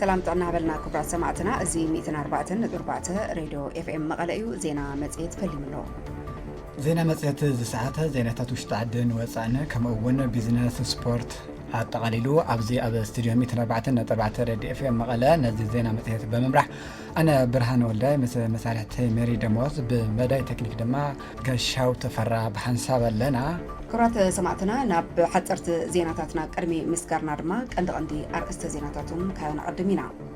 ሰላም ጥዕና ሃበልና ክብራት ሰማዕትና እዚ 104 ነጥቢ 4 ሬድዮ ኤፍኤም መቐለ እዩ ዜና መጽሔት ፈሊሙ ኣሎ ዜና መፅሄት እዚ ሰዓት ዜናታት ውሽጢ ዓድን ወፃእን ከምኡ እውን ቢዝነስ ስፖርት ኣጠቓሊሉ ኣብዚ ኣብ ስቱድዮ ሚትን ኣርባዕተን ነጠባተ ረድዮ ኤፍኤም መቐለ ነዚ ዜና መፅሄት ብምምራሕ ኣነ ብርሃን ወልዳይ ምስ መሳርሕተይ ሜሪ ደሞዝ ብመዳይ ቴክኒክ ድማ ገሻው ተፈራ ብሓንሳብ ኣለና ክብራት ሰማዕትና ናብ ሓፀርቲ ዜናታትና ቅድሚ ምስጋርና ድማ ቀንዲ ቀንዲ ኣርእስተ ዜናታቱም ከነዕድም ኢና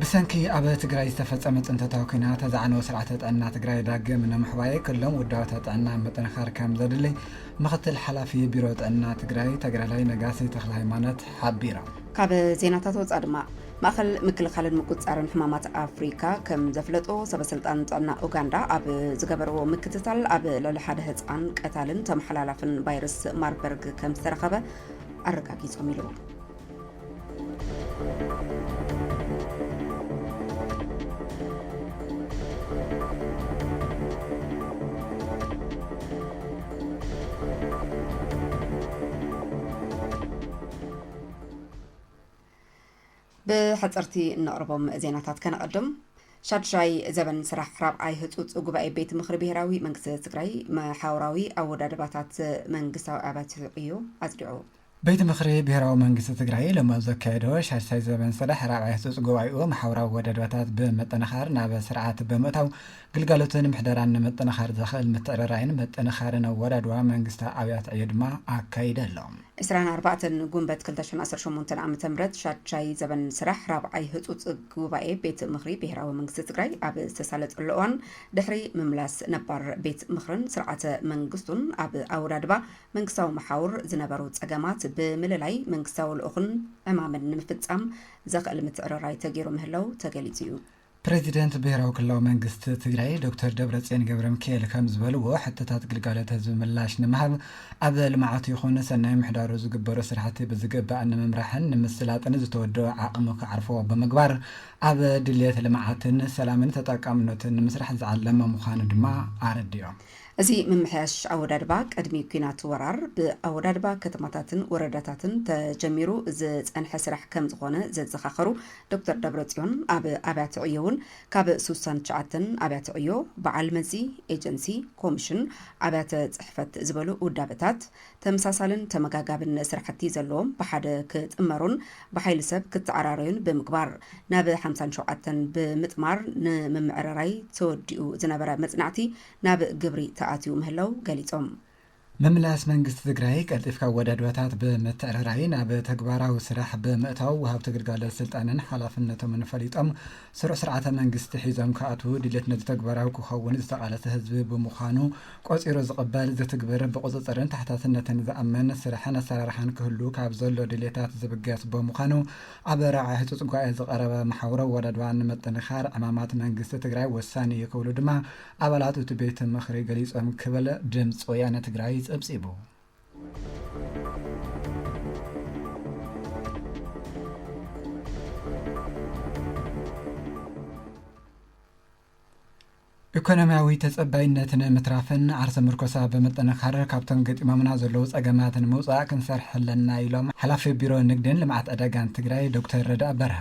ብሰንኪ ኣብ ትግራይ ዝተፈፀመ ፅንተታዊ ኲናት ዝዓነወ ስርዓተ ጥዕና ትግራይ ዳግም ንምሕዋይ ክሎም ውዳበታት ጥዕና ምጥንኻር ከምዘድሊ ምኽትል ሓላፊ ቢሮ ጥዕና ትግራይ ተግራላይ ነጋሲ ተኽለሃይማኖት ሓቢሮም። ካብ ዜናታት ወፃእ ድማ ማእኸል ምክልኻልን ምቁፅፃርን ሕማማት ኣፍሪካ ከም ዘፍለጦ ሰበ ስልጣን ጥዕና ኡጋንዳ ኣብ ዝገበርዎ ምክትታል ኣብ ልዕሊ ሓደ ህፃን ቀታልን ተመሓላላፍን ቫይረስ ማርበርግ ከም ዝተረኸበ ኣረጋጊፆም ኢሉ። ብሕፅርቲ እነቕርቦም ዜናታት ከነቐድም ሻድሻይ ዘበን ስራሕ ራብዓይ ህፁፅ ጉባኤ ቤት ምክሪ ብሄራዊ መንግስቲ ትግራይ መሓውራዊ ኣወዳድባታት መንግስታዊ ኣብያተ ዕዮ ኣፅዲዑ ቤት ምኽሪ ብሄራዊ መንግስቲ ትግራይ ሎሚ ኣብ ዘካየዶ ሻድሳይ ዘበን ስራሕ ራብዓይ ህፁፅ ጉባኤኡ ማሕበራዊ ወደባታት ብምጥንኻር ናብ ስርዓት ብምእታው ግልጋሎትን ምሕደራን ንምጥንኻር ዘኽእል ምትዕርራይን ምጥንኻርን ኣወዳድባ መንግስቲ ኣብያት ዕዮ ድማ ኣካይደ ኣሎ። ዕስራን ኣርባዕተን ጉንበት ክልተ ሽሕን ዓሰርተ ሸሞንተን ዓመተ ምህረት ሻድሻይ ዘበን ስራሕ ራብዓይ ህፁፅ ጉባኤ ቤት ምኽሪ ብሄራዊ መንግስቲ ትግራይ ኣብ ዝተሳለጠሉ እዋን ድሕሪ ምምላስ ነባር ቤት ምኽርን ስርዓተ መንግስቱን ኣብ ኣወዳድባ መንግስታዊ መሓውር ዝነበሩ ጸገማት ብምልላይ መንግስታዊ ልኡኽን ዕማምን ንምፍጻም ዘኽእል ምትዕርራይ ተገይሩ ምህላው ተገሊጹ እዩ። ፕረዚደንት ብሄራዊ ክልላዊ መንግስቲ ትግራይ ዶክተር ደብረፅዮን ገብረሚካኤል ከምዝበልዎ፣ ሕቶታት ግልጋሎት ህዝቢ ምላሽ ንምሃብ ኣብ ልምዓቱ ይኹን ሰናይ ምሕዳሩ ዝግበሩ ስራሕቲ ብዝግባእ ንምምራሕን ንምስላጥን ዝተወደኡ ዓቕሚ ክዓርፎ ብምግባር ኣብ ድልየት ልምዓትን ሰላምን ተጠቃምነቱን ንምስራሕ ዝዓለመ ምዃኑ ድማ ኣረዲኦም። እዚ ምምሕያሽ ኣወዳድባ ቅድሚ ኲናት ወራር ብኣወዳድባ ከተማታትን ወረዳታትን ተጀሚሩ ዝፀንሐ ስራሕ ከምዝኾነ ዘዘኻኸሩ ዶክተር ደብረፅዮን ኣብ ኣብያተ ዕዮ እውን ካብ ስሳን ትሽዓተን ኣብያተ ዕዮ በዓል መዚ፣ ኤጀንሲ፣ ኮሚሽን፣ ኣብያተ ፅሕፈት ዝበሉ ውዳበታት ተመሳሳልን ተመጋጋብን ስራሕቲ ዘለዎም ብሓደ ክጥመሩን ብሓይሊ ሰብ ክተዓራረዩን ብምግባር ናብ ሓምሳን ሸውዓተን ብምጥማር ንምምዕርራይ ተወዲኡ ዝነበረ መፅናዕቲ ናብ ግብሪ ተኣትዩ ምህላው ገሊፆም። ምምላስ መንግስቲ ትግራይ ቀልጢፍካ ኣወዳድባታት ብምትዕርራይ ናብ ተግባራዊ ስራሕ ብምእታው ወሃብቲ ግልጋሎት ስልጣንን ሓላፍነቶምን ፈሊጦም ስሩዕ ስርዓተ መንግስቲ ሒዞም ክኣትዉ ድሌት ነዚ ተግባራዊ ክኸውን ዝተቓለሰ ህዝቢ ብምዃኑ ቆፂሩ ዝቕበል፣ ዝትግብር፣ ብቑፅፅርን ተሓታትነትን ዝኣምን ስራሕን ኣሰራርሓን ክህሉ ካብ ዘሎ ድልየታት ዝብገስ በምዃኑ ኣብ ራዕይ ህፁፅ ጉባኤ ዝቐረበ መሓውር ኣወዳድባ ንምጥንኻር ዕማማት መንግስቲ ትግራይ ወሳኒ እዩ ክብሉ ድማ ኣባላት እቲ ቤት ምኽሪ ገሊፆም ክብል ድምፂ ወያነ ትግራይ ፀብፂቡ። ኢኮኖሚያዊ ተፀባይነት ንምትራፍን ዓርሰ ምርኮሳ ብምጥንኻር ካብቶም ገጢሞምና ዘለዉ ፀገማት ንምውፃእ ክንሰርሕ ኣለና ኢሎም ሓላፊ ቢሮ ንግድን ልምዓት ዕዳጋን ትግራይ ዶክተር ረድኣ በርሀ።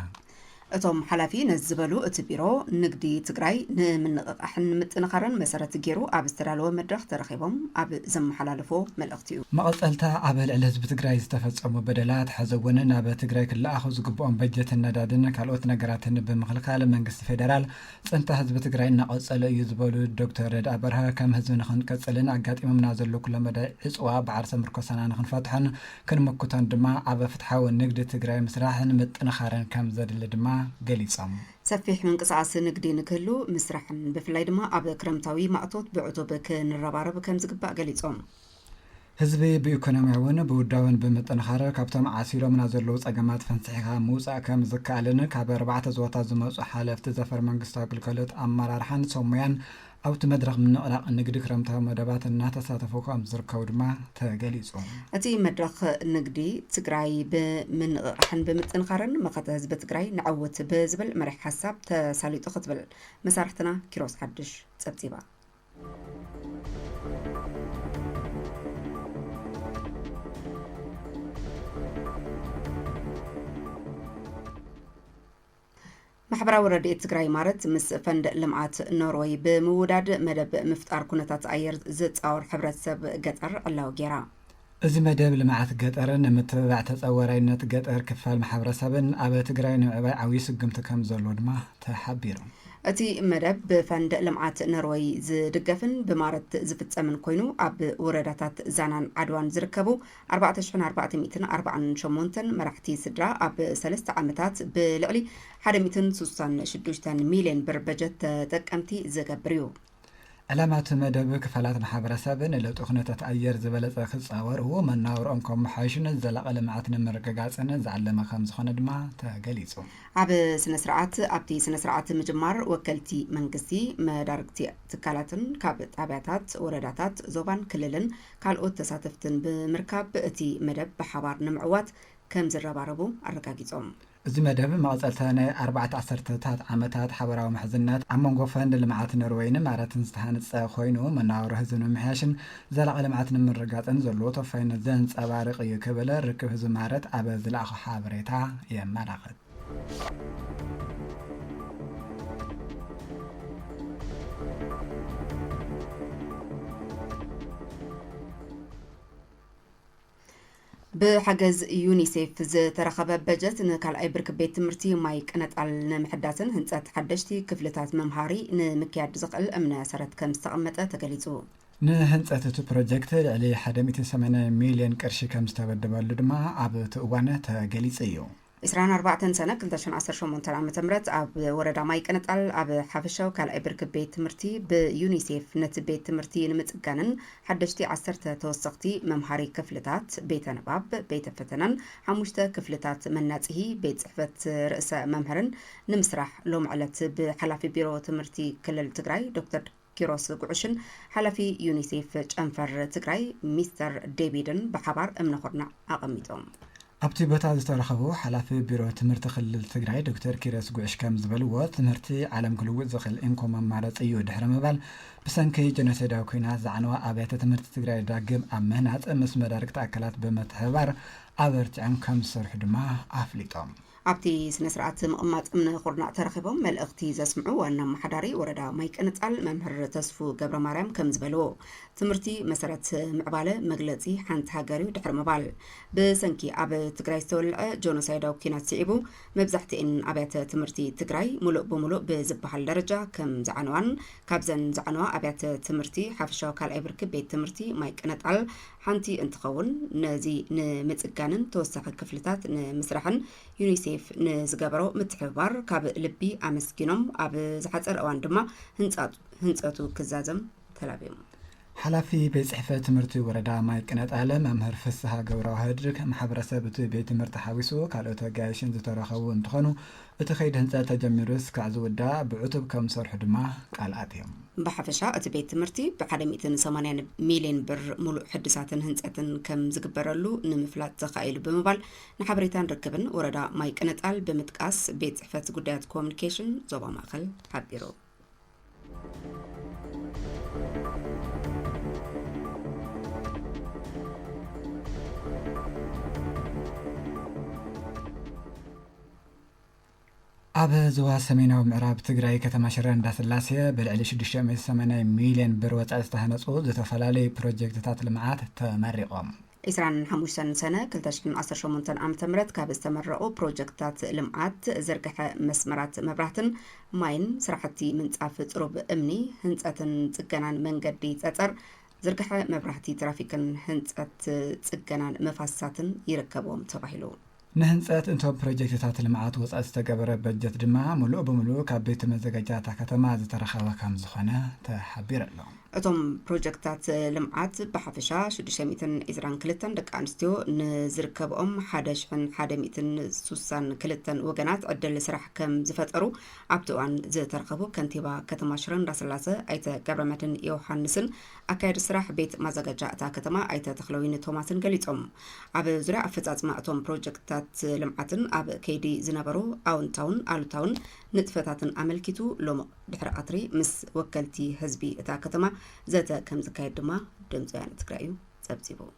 እቶም ሓላፊ ነዚ ዝበሉ እቲ ቢሮ ንግዲ ትግራይ ንምንቕቓሕን ንምጥንኻርን መሰረት ገይሩ ኣብ ዝተዳለወ መድረኽ ተረኺቦም ኣብ ዘመሓላለፎ መልእኽቲ መቐጸልታ ኣብ ልዕሊ ህዝቢ ትግራይ ዝተፈጸሙ በደላት ሐዘ'ውን ናብ ትግራይ ክለኣኹ ዝግብኦም በጀትን ነዳድን ካልኦት ነገራትን ብምኽልካል መንግስቲ ፌደራል ፅንተት ህዝቢ ትግራይ እናቐፀሎ እዩ ዝበሉ ዶክተር ረድኢ በርሀ ከም ህዝቢ ንኽንቅፅልን ኣጋጢሞምና ዘሎ ኩለመዳይ ዕፅዋ ብዓርሰ ምርኮሳና ንኽንፈትሖን ክንምክቶን ድማ ኣብ ፍትሓዊ ንግድ ትግራይ ምስራሕን ምጥንኻርን ከም ዘድሊ ድማ ገሊፆም። ሰፊሕ ምንቅስቓስ ንግዲ ንክህሉ ምስራሕን ብፍላይ ድማ ኣብ ክረምታዊ ማእቶት ብዕቱብ ክንረባረብ ከምዝግባእ ገሊፆም። ህዝቢ ብኢኮኖሚያዊን ብውዳበን ብምጥንኻር ካብቶም ዓሲሎምና ዘለዉ ፀገማት ፈንሲሕኻ ምውፃእ ከምዝከኣልን ካብ ኣርባዕተ ዞባታት ዝመፁ ሓለፍቲ ዘፈር መንግስታዊ ግልጋሎት ኣመራርሓን ሰብሞያን ኣብቲ መድረኽ ምንቕናቕ ንግዲ ክረምታዊ መደባት እናተሳተፉ ከምዝርከቡ ድማ ተገሊፁ። እቲ መድረኽ ንግዲ ትግራይ ብምንቕቓሕን ብምጥንኻርን መኸተ ህዝቢ ትግራይ ነዐውት ብዝብል መሪሕ ሓሳብ ተሳሊጡ ክትብል መሳርሕትና ኪሮስ ሓዱሽ ፀብፂባ። ማሕበራዊ ረድኤት ትግራይ ማረት ምስ ፈንድ ልምዓት ኖርወይ ብምውዳድ መደብ ምፍጣር ኩነታት ኣየር ዝፃወር ሕብረተሰብ ገጠር ዕላዊ ገይራ። እዚ መደብ ልምዓት ገጠር ንምትብባዕ ተፀዋራይነት ገጠር ክፋል ማሕበረሰብን ኣብ ትግራይ ንምዕባይ ዓብዩ ስጉምቲ ከምዘለዎ ድማ ተሓቢሩ። እቲ መደብ ብፈንድ ልምዓት ኖርወይ ዝድገፍን ብማረት ዝፍፀምን ኮይኑ ኣብ ውረዳታት ዛናን ዓድዋን ዝርከቡ ኣርባዕተ ሽሕን ኣርባዕተ ሚእትን ኣርባዓን ሸሞንተን መራሕቲ ስድራ ኣብ ሰለስተ ዓመታት ብልዕሊ ሓደ ሚእትን ስሳን ሽዱሽተን ሚልየን ብር በጀት ተጠቀምቲ ዝገብር እዩ። ዕላማ እቲ መደብ ክፋላት ማሕበረሰብ ንለውጢ ኩነታት ኣየር ዝበለፀ ክፃወሩ፣ መነባብርኦም ከመሓይሹን ዘላቒ ልምዓት ንምርግጋፅን ዝዓለመ ከምዝኾነ ድማ ተገሊፁ። ኣብ ስነ ስርዓት ኣብቲ ስነ ስርዓት ምጅማር ወከልቲ መንግስቲ፣ መዳርግቲ ትካላትን ካብ ጣብያታት፣ ወረዳታት፣ ዞባን ክልልን ካልኦት ተሳተፍትን ብምርካብ እቲ መደብ ብሓባር ንምዕዋት ከምዝረባረቡ ኣረጋጊፆም። እዚ መደብ መቐፀልታ ናይ ኣርባዕተ ዓሰርተታት ዓመታት ሓበራዊ ምሕዝነት ኣብ መንጎ ፈንድ ልምዓት ኖርዌይን ኢማራትን ዝተሃንፀ ኮይኑ መነባብሮ ህዝቢ ንምምሕያሽን ዘላቒ ልምዓት ንምርግጋፅን ዘለዎ ተወፋይነት ዘንፀባርቕ ኢዩ ክብል ርክብ ህዝቢ ኢማረት ኣብ ዝለኣኾ ሓበሬታ የመላኽት። ብሓገዝ ዩኒሴፍ ዝተረኸበ በጀት ንካልኣይ ብርኪ ቤት ትምህርቲ ማይ ቅነጣል ንምሕዳስን ህንፀት ሓደሽቲ ክፍልታት መምሃሪ ንምክያድ ዝኽእል እምነ ሰረት ከም ዝተቐመጠ ተገሊፁ። ንህንፀት እቲ ፕሮጀክት ልዕሊ 180 ሚሊዮን ቅርሺ ከም ዝተበደበሉ ድማ ኣብቲ እዋን ተገሊፁ እዩ። ዕስራን ኣርባዕተን ሰነ ክልተ ሽሕን ዓሰርተ ሸሞንተን ዓመተ ምህረት ኣብ ወረዳ ማይ ቅንጣል ኣብ ሓፈሻዊ ካልኣይ ብርኪ ቤት ትምህርቲ ብዩኒሴፍ ነቲ ቤት ትምህርቲ ንምፅጋንን ሓደሽቲ ዓሰርተ ተወሰኽቲ መምሃሪ ክፍልታት፣ ቤተ ንባብ፣ ቤተ ፈተነን ሓሙሽተ ክፍልታት መናፅሂ ቤት ፅሕፈት ርእሰ መምህርን ንምስራሕ ሎሚ ዕለት ብሓላፊ ቢሮ ትምህርቲ ክልል ትግራይ ዶክተር ኪሮስ ጉዕሽን ሓላፊ ዩኒሴፍ ጨንፈር ትግራይ ሚስተር ዴቪድን ብሓባር እምነ ኩርናዕ ኣቐሚጦም። ኣብቲ ቦታ ዝተረኸቡ ሓላፊ ቢሮ ትምህርቲ ክልል ትግራይ ዶክተር ኪሮስ ጉዕሽ ከም ዝበልዎ፣ ትምህርቲ ዓለም ክልውጥ ዝኽእል እንኮ መማረፂ እዩ ድሕሪ ምባል፣ ብሰንኪ ጀኖሰይዳዊ ኲናት ዝዓነዋ ኣብያተ ትምህርቲ ትግራይ ዳግም ኣብ ምህናፅ ምስ መዳርግቲ ኣካላት ብምትሕብባር ኣበርቲዖም ከም ዝሰርሑ ድማ ኣፍሊጦም። ኣብቲ ስነስርዓት ምቕማጥ እምነ ኩርናዕ ተረኺቦም መልእኽቲ ዘስምዑ ዋና ኣመሓዳሪ ወረዳ ማይቅንፃል መምህር ተስፉ ገብረማርያም ከምዝበልዎ፣ ትምህርቲ መሰረት ምዕባለ መግለፂ ሓንቲ ሃገር ዩ ድሕሪ ምባል፣ ብሰንኪ ኣብ ትግራይ ዝተወልዐ ጆኖሳይዳዊ ኲናት ስዒቡ መብዛሕቲኤን ኣብያተ ትምህርቲ ትግራይ ሙሉእ ብሙሉእ ብዝበሃል ደረጃ ከምዝዓነዋን ካብዘን ዝዓነዋ ኣብያተ ትምህርቲ ሓፈሻዊ ካልኣይ ብርኪ ቤት ትምህርቲ ማይቅነጣል ሓንቲ እንትኸውን ነዚ ንምፅጋንን ተወሳኺ ክፍልታት ንምስራሕን ዩኒሴፍ ንዝገበሮ ምትሕብባር ካብ ልቢ ኣመስጊኖም ኣብ ዝሓፀረ እዋን ድማ ህንፀቱ ክዛዘም ተላብዮም። ሓላፊ ቤት ፅሕፈት ትምህርቲ ወረዳ ማይ ቅነጣለ መምህር ፍስሃ ገብረዋህድ ማሕበረሰብ እቲ ቤት ትምህርቲ ሓዊሱ ካልኦት ኣጋይሽን ዝተረኸቡ እንትኾኑ እቲ ከይዲ ህንፀት ተጀሚሩ እስካዕ ዝውዳእ ብዕቱብ ከምዝሰርሑ ድማ ቃል ኣትዮም። ብሓፈሻ እቲ ቤት ትምህርቲ ብሓደ ሚእትን ሰማንያን ሚሊየን ብር ሙሉእ ሕድሳትን ህንፀትን ከምዝግበረሉ ንምፍላጥ ተኻኢሉ ብምባል ንሓበሬታን ርክብን ወረዳ ማይ ቅነጣል ብምጥቃስ ቤት ፅሕፈት ጉዳያት ኮሙኒኬሽን ዞባ ማእኸል ሓቢሩ። ኣብ ዝዋ ሰሜናዊ ምዕራብ ትግራይ ከተማ ሽረ እንዳስላሴ ብልዕሊ 680 ሚልዮን ብር ወፃኢ ዝተሃነፁ ዝተፈላለዩ ፕሮጀክትታት ልምዓት ተመሪቖም ዕስራን ሓሙሽተን ሰነ ክልተ ሽሕን ዓሰርተ ሸሞንተን ዓመተ ምህረት ካብ ዝተመረቑ ፕሮጀክትታት ልምዓት ዝርግሐ መስመራት መብራህትን ማይን፣ ስራሕቲ ምንፃፍ ፅሩብ እምኒ፣ ህንፀትን ፅገናን መንገዲ ፀፀር፣ ዝርግሐ መብራህቲ ትራፊክን ህንፀት ፅገናን መፋስሳትን ይርከብዎም ተባሂሉ። ንህንፀት እቶም ፕሮጀክትታት ልምዓት ወፃኢ ዝተገበረ በጀት ድማ ሙሉእ ብሙሉእ ካብ ቤት መዘጋጃ እታ ከተማ ዝተረኸበ ከምዝኾነ ተሓቢሩ ኣሎ። እቶም ፕሮጀክትታት ልምዓት ብሓፈሻ ሽዱሽተ ሚእትን ዒስራን ክልተን ደቂ ኣንስትዮ ንዝርከብኦም ሓደ ሽሕን ሓደ ሚእትን ሱሳን ክልተን ወገናት ዕድል ስራሕ ከም ዝፈጠሩ ኣብቲ እዋን ዝተረኸቡ ከንቲባ ከተማ ሽረ እንዳስላሰ ኣይተ ገብረመድህን ዮውሃንስን ኣካያዲ ስራሕ ቤት ማዘጋጃ እታ ከተማ ኣይተ ተኽለወይኒ ቶማስን ገሊፆም። ኣብ ዙርያ ኣፈፃፅማ እቶም ፕሮጀክትታት ልምዓትን ኣብ ከይዲ ዝነበሩ ኣወንታውን ኣሉታውን ንጥፈታትን ኣመልኪቱ ሎሚ ድሕሪ ቀትሪ ምስ ወከልቲ ህዝቢ እታ ከተማ ዘተ ከምዝካየድ ድማ ድምፂ ወያነ ትግራይ እዩ ፀብፂቡ።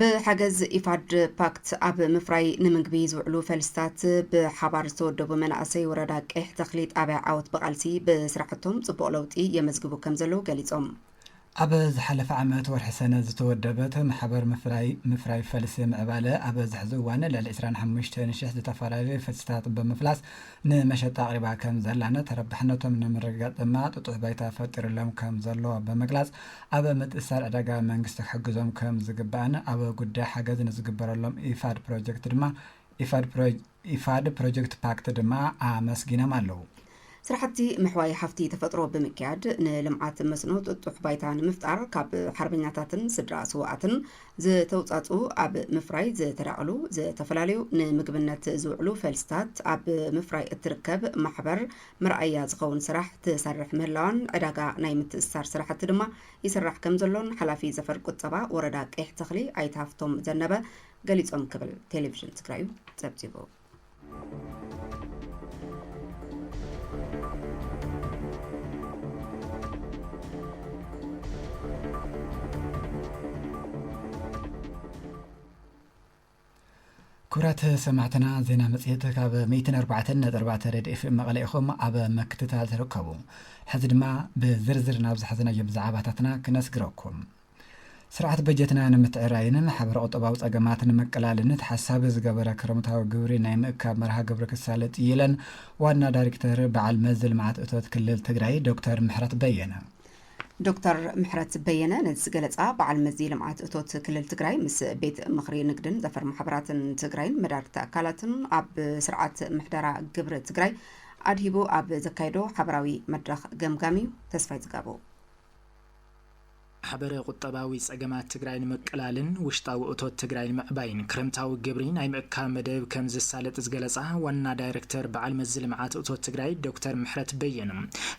ብሓገዝ ኢፋድ ፓክት ኣብ ምፍራይ ንምግቢ ዝውዕሉ ፈልስታት ብሓባር ዝተወደቡ መናእሰይ ወረዳ ቀይሕ ተኽሊ ጣብያ ዓወት ብቓልሲ ብስራሕቶም ፅቡቕ ለውጢ የመዝግቡ ከምዘለዉ ገሊፆም። ኣብ ዝሓለፈ ዓመት ወርሒ ሰነ ዝተወደበት ማሕበር ምፍራይ ምፍራይ ፈልሲ ምዕባለ ኣብ ዝሕዚ እዋን ልዕሊ ዕስራን ሓሙሽተን ሽሕ ዝተፈላለዩ ፈልስታት ብምፍላስ ንመሸጣ ኣቕሪባ ከም ዘላነ ተረባሕነቶም ንምርግጋፅ ድማ ጥጡሕ ባይታ ፈጢሩሎም ከም ዘሎ ብምግላፅ ኣብ ምትእስሳር ዕዳጋ መንግስቲ ክሕግዞም ከም ዝግባእን ኣብ ጉዳይ ሓገዝ ንዝግበረሎም ኢፋድ ፕሮጀክት ድማ ኢፋድ ፕሮጀክት ፓክት ድማ ኣመስጊኖም ኣለው። ስራሕቲ ምሕዋይ ሃፍቲ ተፈጥሮ ብምክያድ ንልምዓት መስኖ ጥጡሕ ባይታ ንምፍጣር ካብ ሓርበኛታትን ስድራ ስውኣትን ዝተውፃእፅኡ ኣብ ምፍራይ ዝተዳቕሉ ዝተፈላለዩ ንምግብነት ዝውዕሉ ፈልስታት ኣብ ምፍራይ እትርከብ ማሕበር መርኣያ ዝኸውን ስራሕ ትሰርሕ ምህላዋን ዕዳጋ ናይ ምትእስሳር ስራሕቲ ድማ ይስራሕ ከምዘሎን ሓላፊ ዘፈር ቁጠባ ወረዳ ቄሕ ተኽሊ ኣይተ ሃፍቶም ዘነበ ገሊፆም ክብል ቴሌቪዥን ትግራዩ ፀብፂቡ። ክብራት ሰማዕትና ዜና መፅሄት ካብ 104.4 ሬድ ኤፍኤም መቐለ ኢኹም ኣብ ምክትታል ትርከቡ ሕዚ ድማ ብዝርዝር ናብ ዝሓዘናዮም ዛዕባታትና ክነስግረኩም ስርዓት በጀትና ንምትዕራይን ማሕበረ ቁጠባዊ ፀገማት ንምቅላልን ተሓሳቢ ዝገበረ ክረምታዊ ግብሪ ናይ ምእካብ መርሃ ግብሪ ክሳለጥ እዩ ኢለን ዋና ዳይሬክተር በዓል መዚ ልምዓት እቶት ክልል ትግራይ ዶክተር ምሕረት በየነ። ዶክተር ምሕረት በየነ ነዚ ዝገለፃ በዓል መዚ ልምዓት እቶት ክልል ትግራይ ምስ ቤት ምኽሪ ንግድን ዘፈር ማሕበራትን ትግራይን መዳርግቲ ኣካላትን ኣብ ስርዓት ምሕደራ ግብሪ ትግራይ ኣድሂቡ ኣብ ዘካየዶ ሓበራዊ መድረኽ ገምጋም እዩ። ተስፋይ ዝጋቡ ማሕበረ ቁጠባዊ ፀገማት ትግራይ ንምቅላልን ውሽጣዊ እቶት ትግራይ ንምዕባይን ክረምታዊ ግብሪ ናይ ምእካብ መደብ ከምዝሳለጥ ዝገለፃ ዋና ዳይሬክተር በዓል መዚ ልምዓት እቶት ትግራይ ዶክተር ምሕረት በየነ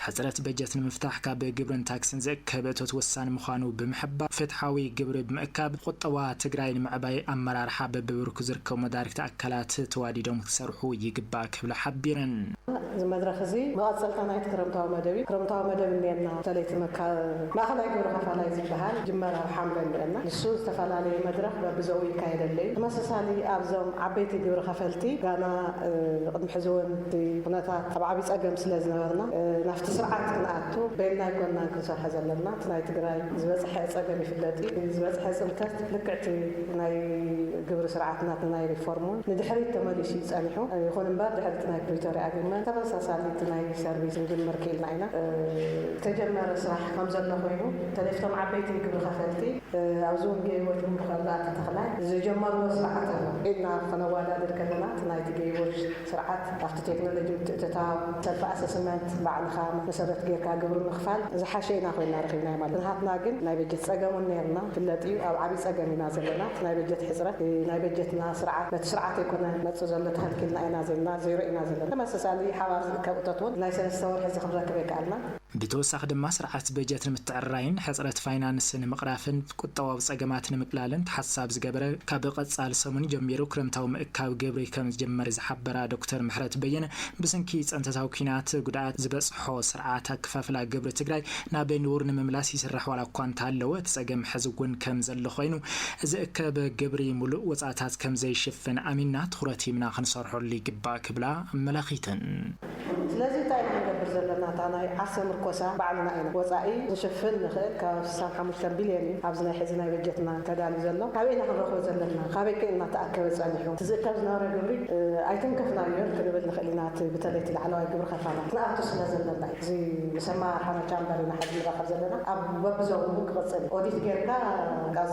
ሕፅረት በጀት ንምፍታሕ ካብ ግብርን ታክስን ዝእከብ እቶት ወሳኒ ምዃኑ ብምሕባር ፍትሓዊ ግብሪ ብምእካብ ቁጠባ ትግራይ ንምዕባይ ኣመራርሓ በቢብርኩ ዝርከቡ መዳርግቲ ኣካላት ተዋዲዶም ክሰርሑ ይግባእ ክብላ ሓቢረን። እዚ መድረኽ እዚ መቐጸልታ ናይቲ ክረምታዊ መደብ እዩ። ክረምታዊ መደብ እኒኤና በተለይ እቲ ማእኸላይ ግብሪ ከፋላይ ዝበሃል ይጅመር ኣብ ሓምለ እኒኤና። ንሱ ዝተፈላለየ መድረኽ በብዘኡ ይካየደለይ። ተመሳሳሊ ኣብዞም ዓበይቲ ግብሪ ከፈልቲ ጋና ቅድሚ ሕዚ እውን እቲ ኩነታት ኣብ ዓብይ ፀገም ስለ ዝነበርና ናብቲ ስርዓት ክንኣቱ በይንና ኣይኮናን ክንሰርሖ ዘለና። እቲ ናይ ትግራይ ዝበፅሐ ፀገም ይፍለጥ እዩ። እቲ ዝበፅሐ ፅንተት ልክዕ እቲ ናይ ግብሪ ስርዓት ናትና ናይ ሪፎርም እውን ንድሕሪት ተመሊሱ እዩ ፀኒሑ። ይኹን እምበር ድሕሪ እቲ ናይ ፕሪቶሪያ ኣግሪመንት ተመሳሳሊ እቲ ናይ ሰርቪስ ክንጅምር ክኢልና ኢና። ዝተጀመረ ስራሕ ከምዘሎ ኮይኑ በተለይ እቶም ዓበይቲ ግብሪ ከፈልቲ ኣብዚ እውን ገይዎ ጅምሩ ከሎ ኣቶ ተኽላይ ዝጀመርዎ ስርዓት ኣሎ ኢልና ከነወዳድር ከለና እቲ ናይቲ ገይዎ ስርዓት ካብቲ ቴክኖሎጂ ምትእትታው፣ ሰልፊ ኣሰስመንት፣ ባዕልኻ መሰረት ገይርካ ግብሪ ምኽፋል ዝሓሸ ኢና ኮይና ረኺብናዮ ማለት እዩ። ንሃትና ግን ናይ በጀት ጸገም ውን ነይርና ይፍለጥ እዩ። ኣብ ዓቢ ጸገም ኢና ዘለና። እቲ ናይ በጀት ሕጽረት እቲ ናይ በጀትና ስርዓት በቲ ስርዓት ኣይኮነ መጽእ ዘሎ ተኸልኪልና ኢና ዘና ዜሮ ኢና ዘለና። ተመሰሳሊ ሓባር ዝእከብ እቶት ውን ናይ ሰለስተ ወርሒ እዚ ክንረክብ ኣይከኣልናን። ብተወሳኺ ድማ ስርዓት በጀት ንምትዕርራይን ሕፅረት ፋይናንስ ንምቕራፍን ቁጠባዊ ፀገማት ንምቅላልን ተሓሳቢ ዝገበረ ካብ ቐፃሊ ሰሙን ጀሚሩ ክረምታዊ ምእካብ ግብሪ ከምዝጅመር ዝሓበራ ዶክተር ምሕረት በየነ ብስንኪ ፀንተታዊ ኲናት ጉድኣት ዝበፅሖ ስርዓት ኣከፋፍላ ግብሪ ትግራይ ናብ ንቡር ንምምላስ ይስራሕ ዋላ እኳ እንተሃለወ እቲ ፀገም ሐዚ እውን ከምዘሎ ኮይኑ ዝእከብ ግብሪ ሙሉእ ወፃእታት ከምዘይሽፍን ኣሚንና ትኹረት ሂብና ክንሰርሐሉ ይግባእ ክብላ ኣመላኺተን። ስለዚ እንታይ ኢና ክንገብር ዘለና እታ ናይ ዓርሰ ምርኮሳ ባዕልና ኢና ወጻኢ ክንሽፍን ንኽእል ከባቢ ስሳን ሓሙሽተን ቢልዮን እዩ ኣብዚ ናይ ሕዚ ናይ በጀትና ተዳልዩ ዘሎ ካበይ ኢና ክንረኽቦ ዘለና ካበይከ እዩ እናተኣከበ ጸኒሑ እቲ ዝእከብ ዝነበረ ግብሪ ኣይተንከፍናዮን ክንብል ንኽእል ኢና እቲ ብተለይ እቲ ላዕለዋይ ግብሪ ከፋላት ክንኣቱ ስለ ዘለና እዩ እዚ ምስ ኣመራርሓና ቻምበር ኢና ሕዚ ንራኸብ ዘለና ኣብ በብዞን እውን ክቕጽል እዩ ኦዲት ጌርካ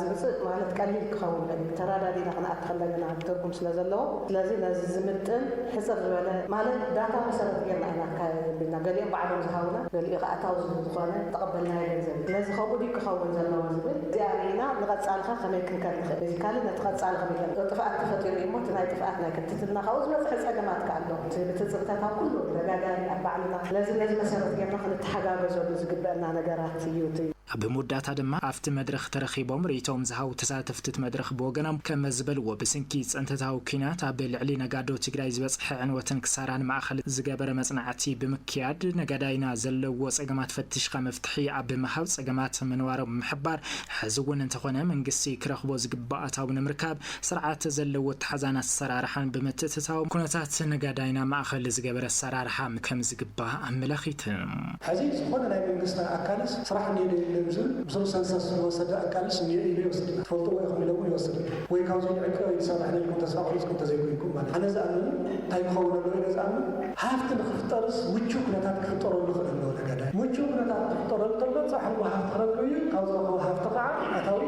ዝምጽእ ማለት ቀሊል ክኸውን ዶ እዩ ተራዳዲእና ክንኣቱ ከለገና ትርጉም ስለ ዘለዎ ስለዚ ነዚ ዝምጥን ሕጽር ዝበለ ማለት ዳታ መሰረት ጌርና ኢና ክካየድ ዘቢልና ገሊኦም ባዕሎም ዝሃቡና ገሊኡ ከኣ ኣታዊ ዝህብ ዝኾነ ዝተቐበልናዮ ገንዘብ እዩ ስለዚ ከምኡ ድዩ ክኸውን ዘለዎ ዝብል እዚኣ ርኢና ንቐጻሊ ከ ከመይ ክንከድ ንኽእል ቤዚካሊ ነቲ ቀጻሊ ከመይ ገርና ጥፍኣት ተፈጢሩ እዩ እሞ እቲ ናይ ጥፍኣት ናይ ክትትልና ካብኡ ዝበጽሐ ጸገማት ከኣ ኣሎ እቲ ብትጽብታት ኣብ ኩሉ ደጋጋሊ ኣብ ባዕልና ስለዚ ነዚ መሰረት ጌርና ክንተሓጋገዘሉ ዝግበእና ነገራት እዩ እቲ ኣብ መወዳእታ ድማ ኣብቲ መድረኽ ተረኺቦም ርእይቶኦም ዝሃቡ ተሳተፍቲ'ቲ መድረኽ ብወገኖም ከመዝበልዎ፣ ብስንኪ ፅንተታዊ ኲናት ኣብ ልዕሊ ነጋዶ ትግራይ ዝበፅሐ ዕንወትን ክሳራን ማእኸል ዝገበረ መፅናዕቲ ብምክያድ ነጋዳይና ዘለዎ ፀገማት ፈትሽኻ መፍትሒ ኣብ ምሃብ ፀገማት ምንባሮም ብምሕባር ሕዚ እውን እንተኾነ መንግስቲ ክረኽቦ ዝግባእ ኣታዊ ንምርካብ ስርዓት ዘለዎ ኣተሓዛን ኣሰራርሓን ብምትእትታው ኩነታት ነጋዳይና ማእኸል ዝገበረ ኣሰራርሓ ከምዝግባእ ኣመላኺተን። ሐዚ ዝኾነ ናይ መንግስቲ ኣካልስ ስራሕ እንሄ ዶ የለን ዝብል ብዙሕ ሰንሰስ ዝወሰደ ኣካልስ እንሄ ኢሉ ይወስድ ትፈልጥዎ ኢኹም ኢሎምውን ይወስድ ወይ ካብዙይ ንዕቀብ ኣይንሰርሕን ኢልኩም ተስፋ ቆሪፅኩም እንተዘይኮይንኩም ማለት ኣነ ዝኣምን እንታይ ክኸውን ኣለዎ ኢለ ዝኣምን ሃፍቲ ንኽፍጠርስ ምቹው ኩነታት ክፍጠረሉ ይኽእል ኣለዎ ነጋዳይ ምቹው ኩነታት ክፍጠረሉ ተሎ ፃዕርዎ ሃፍቲ ክረክብ እዩ ካብ ዝረኸቦ ሃፍቲ ከዓ ኣታዊ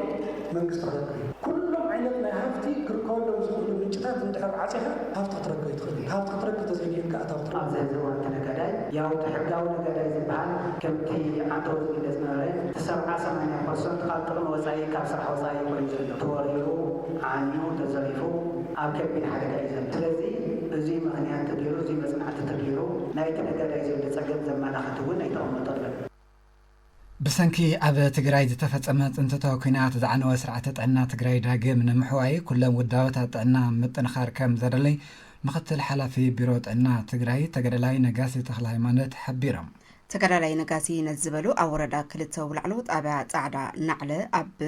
መንግስቲ ክረክብ እዩ። ኩሎም ዓይነት ናይ ሃፍቲ ክርከበሎም ዝኽእሉ ምንጭታት እንድሕር ዓጺኻ ሃፍቲ ክትረክብ ኣይትኽእልን። ሃፍቲ ክትረክብ ተዘይኪኢልካ ኣታዊ ክትረክብ። ኣብዚ ሕዚ እዋን እቲ ነጋዳይ ያውቲ ሕጋዊ ነጋዳይ ዝበሃል ከምቲ ዓንተቦ ዝግለጽ ዝነበረ እቲ ሰብዓ ሰማንያ ፐርሰንት ካብ ጥቕሚ ወጻኢ ካብ ስራሕ ወጻኢ እዩ ኮይኑ ዘሎ። ተወሪሩ፣ ዓንዩ፣ ተዘሪፉ ኣብ ከቢድ ሓደጋ እዩ ዘሎ። ስለዚ እዙይ ምኽንያት ተገይሩ እዙይ መጽናዕቲ ተገይሩ ናይቲ ነጋዳይ ዘሎ ጸገም ዘማላኽት እውን ኣይተቐመጠሉን። ብሰንኪ ኣብ ትግራይ ዝተፈፀመ ፅንተታዊ ኲናት ዝዓነወ ስርዓተ ጥዕና ትግራይ ዳግም ንምሕዋይ ኩለን ውዳበታት ጥዕና ምጥንኻር ከም ዘደለይ ምክትል ሓላፊ ቢሮ ጥዕና ትግራይ ተገደላይ ነጋሲ ተክለሃይማኖት ሓቢሮም። ተጋዳላይ ነጋሲ ነዚ ዝበሉ ኣብ ወረዳ ክልተ ውላዕሎ ጣብያ ፃዕዳ ናዕለ ኣብ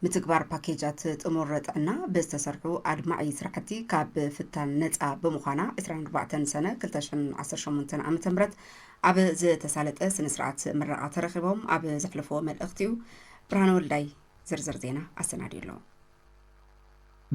ምትግባር ፓኬጃት ጥሙር ጥዕና ብዝተሰርሑ ኣድማዒ ስራሕቲ ካብ ፍታን ነፃ ብምዃና ዕስራን ኣርባዕተን ሰነ ክልተ ሽሕን ዓሰርተ ሸሞንተን ዓመተ ምህረት ኣብ ዝተሳለጠ ስነስርዓት ምረቓ ተረኺቦም ኣብ ዘሕለፍዎ መልእኽቲ እዩ። ብርሃነ ወልዳይ ዝርዝር ዜና ኣሰናዲዩ ኣሎ።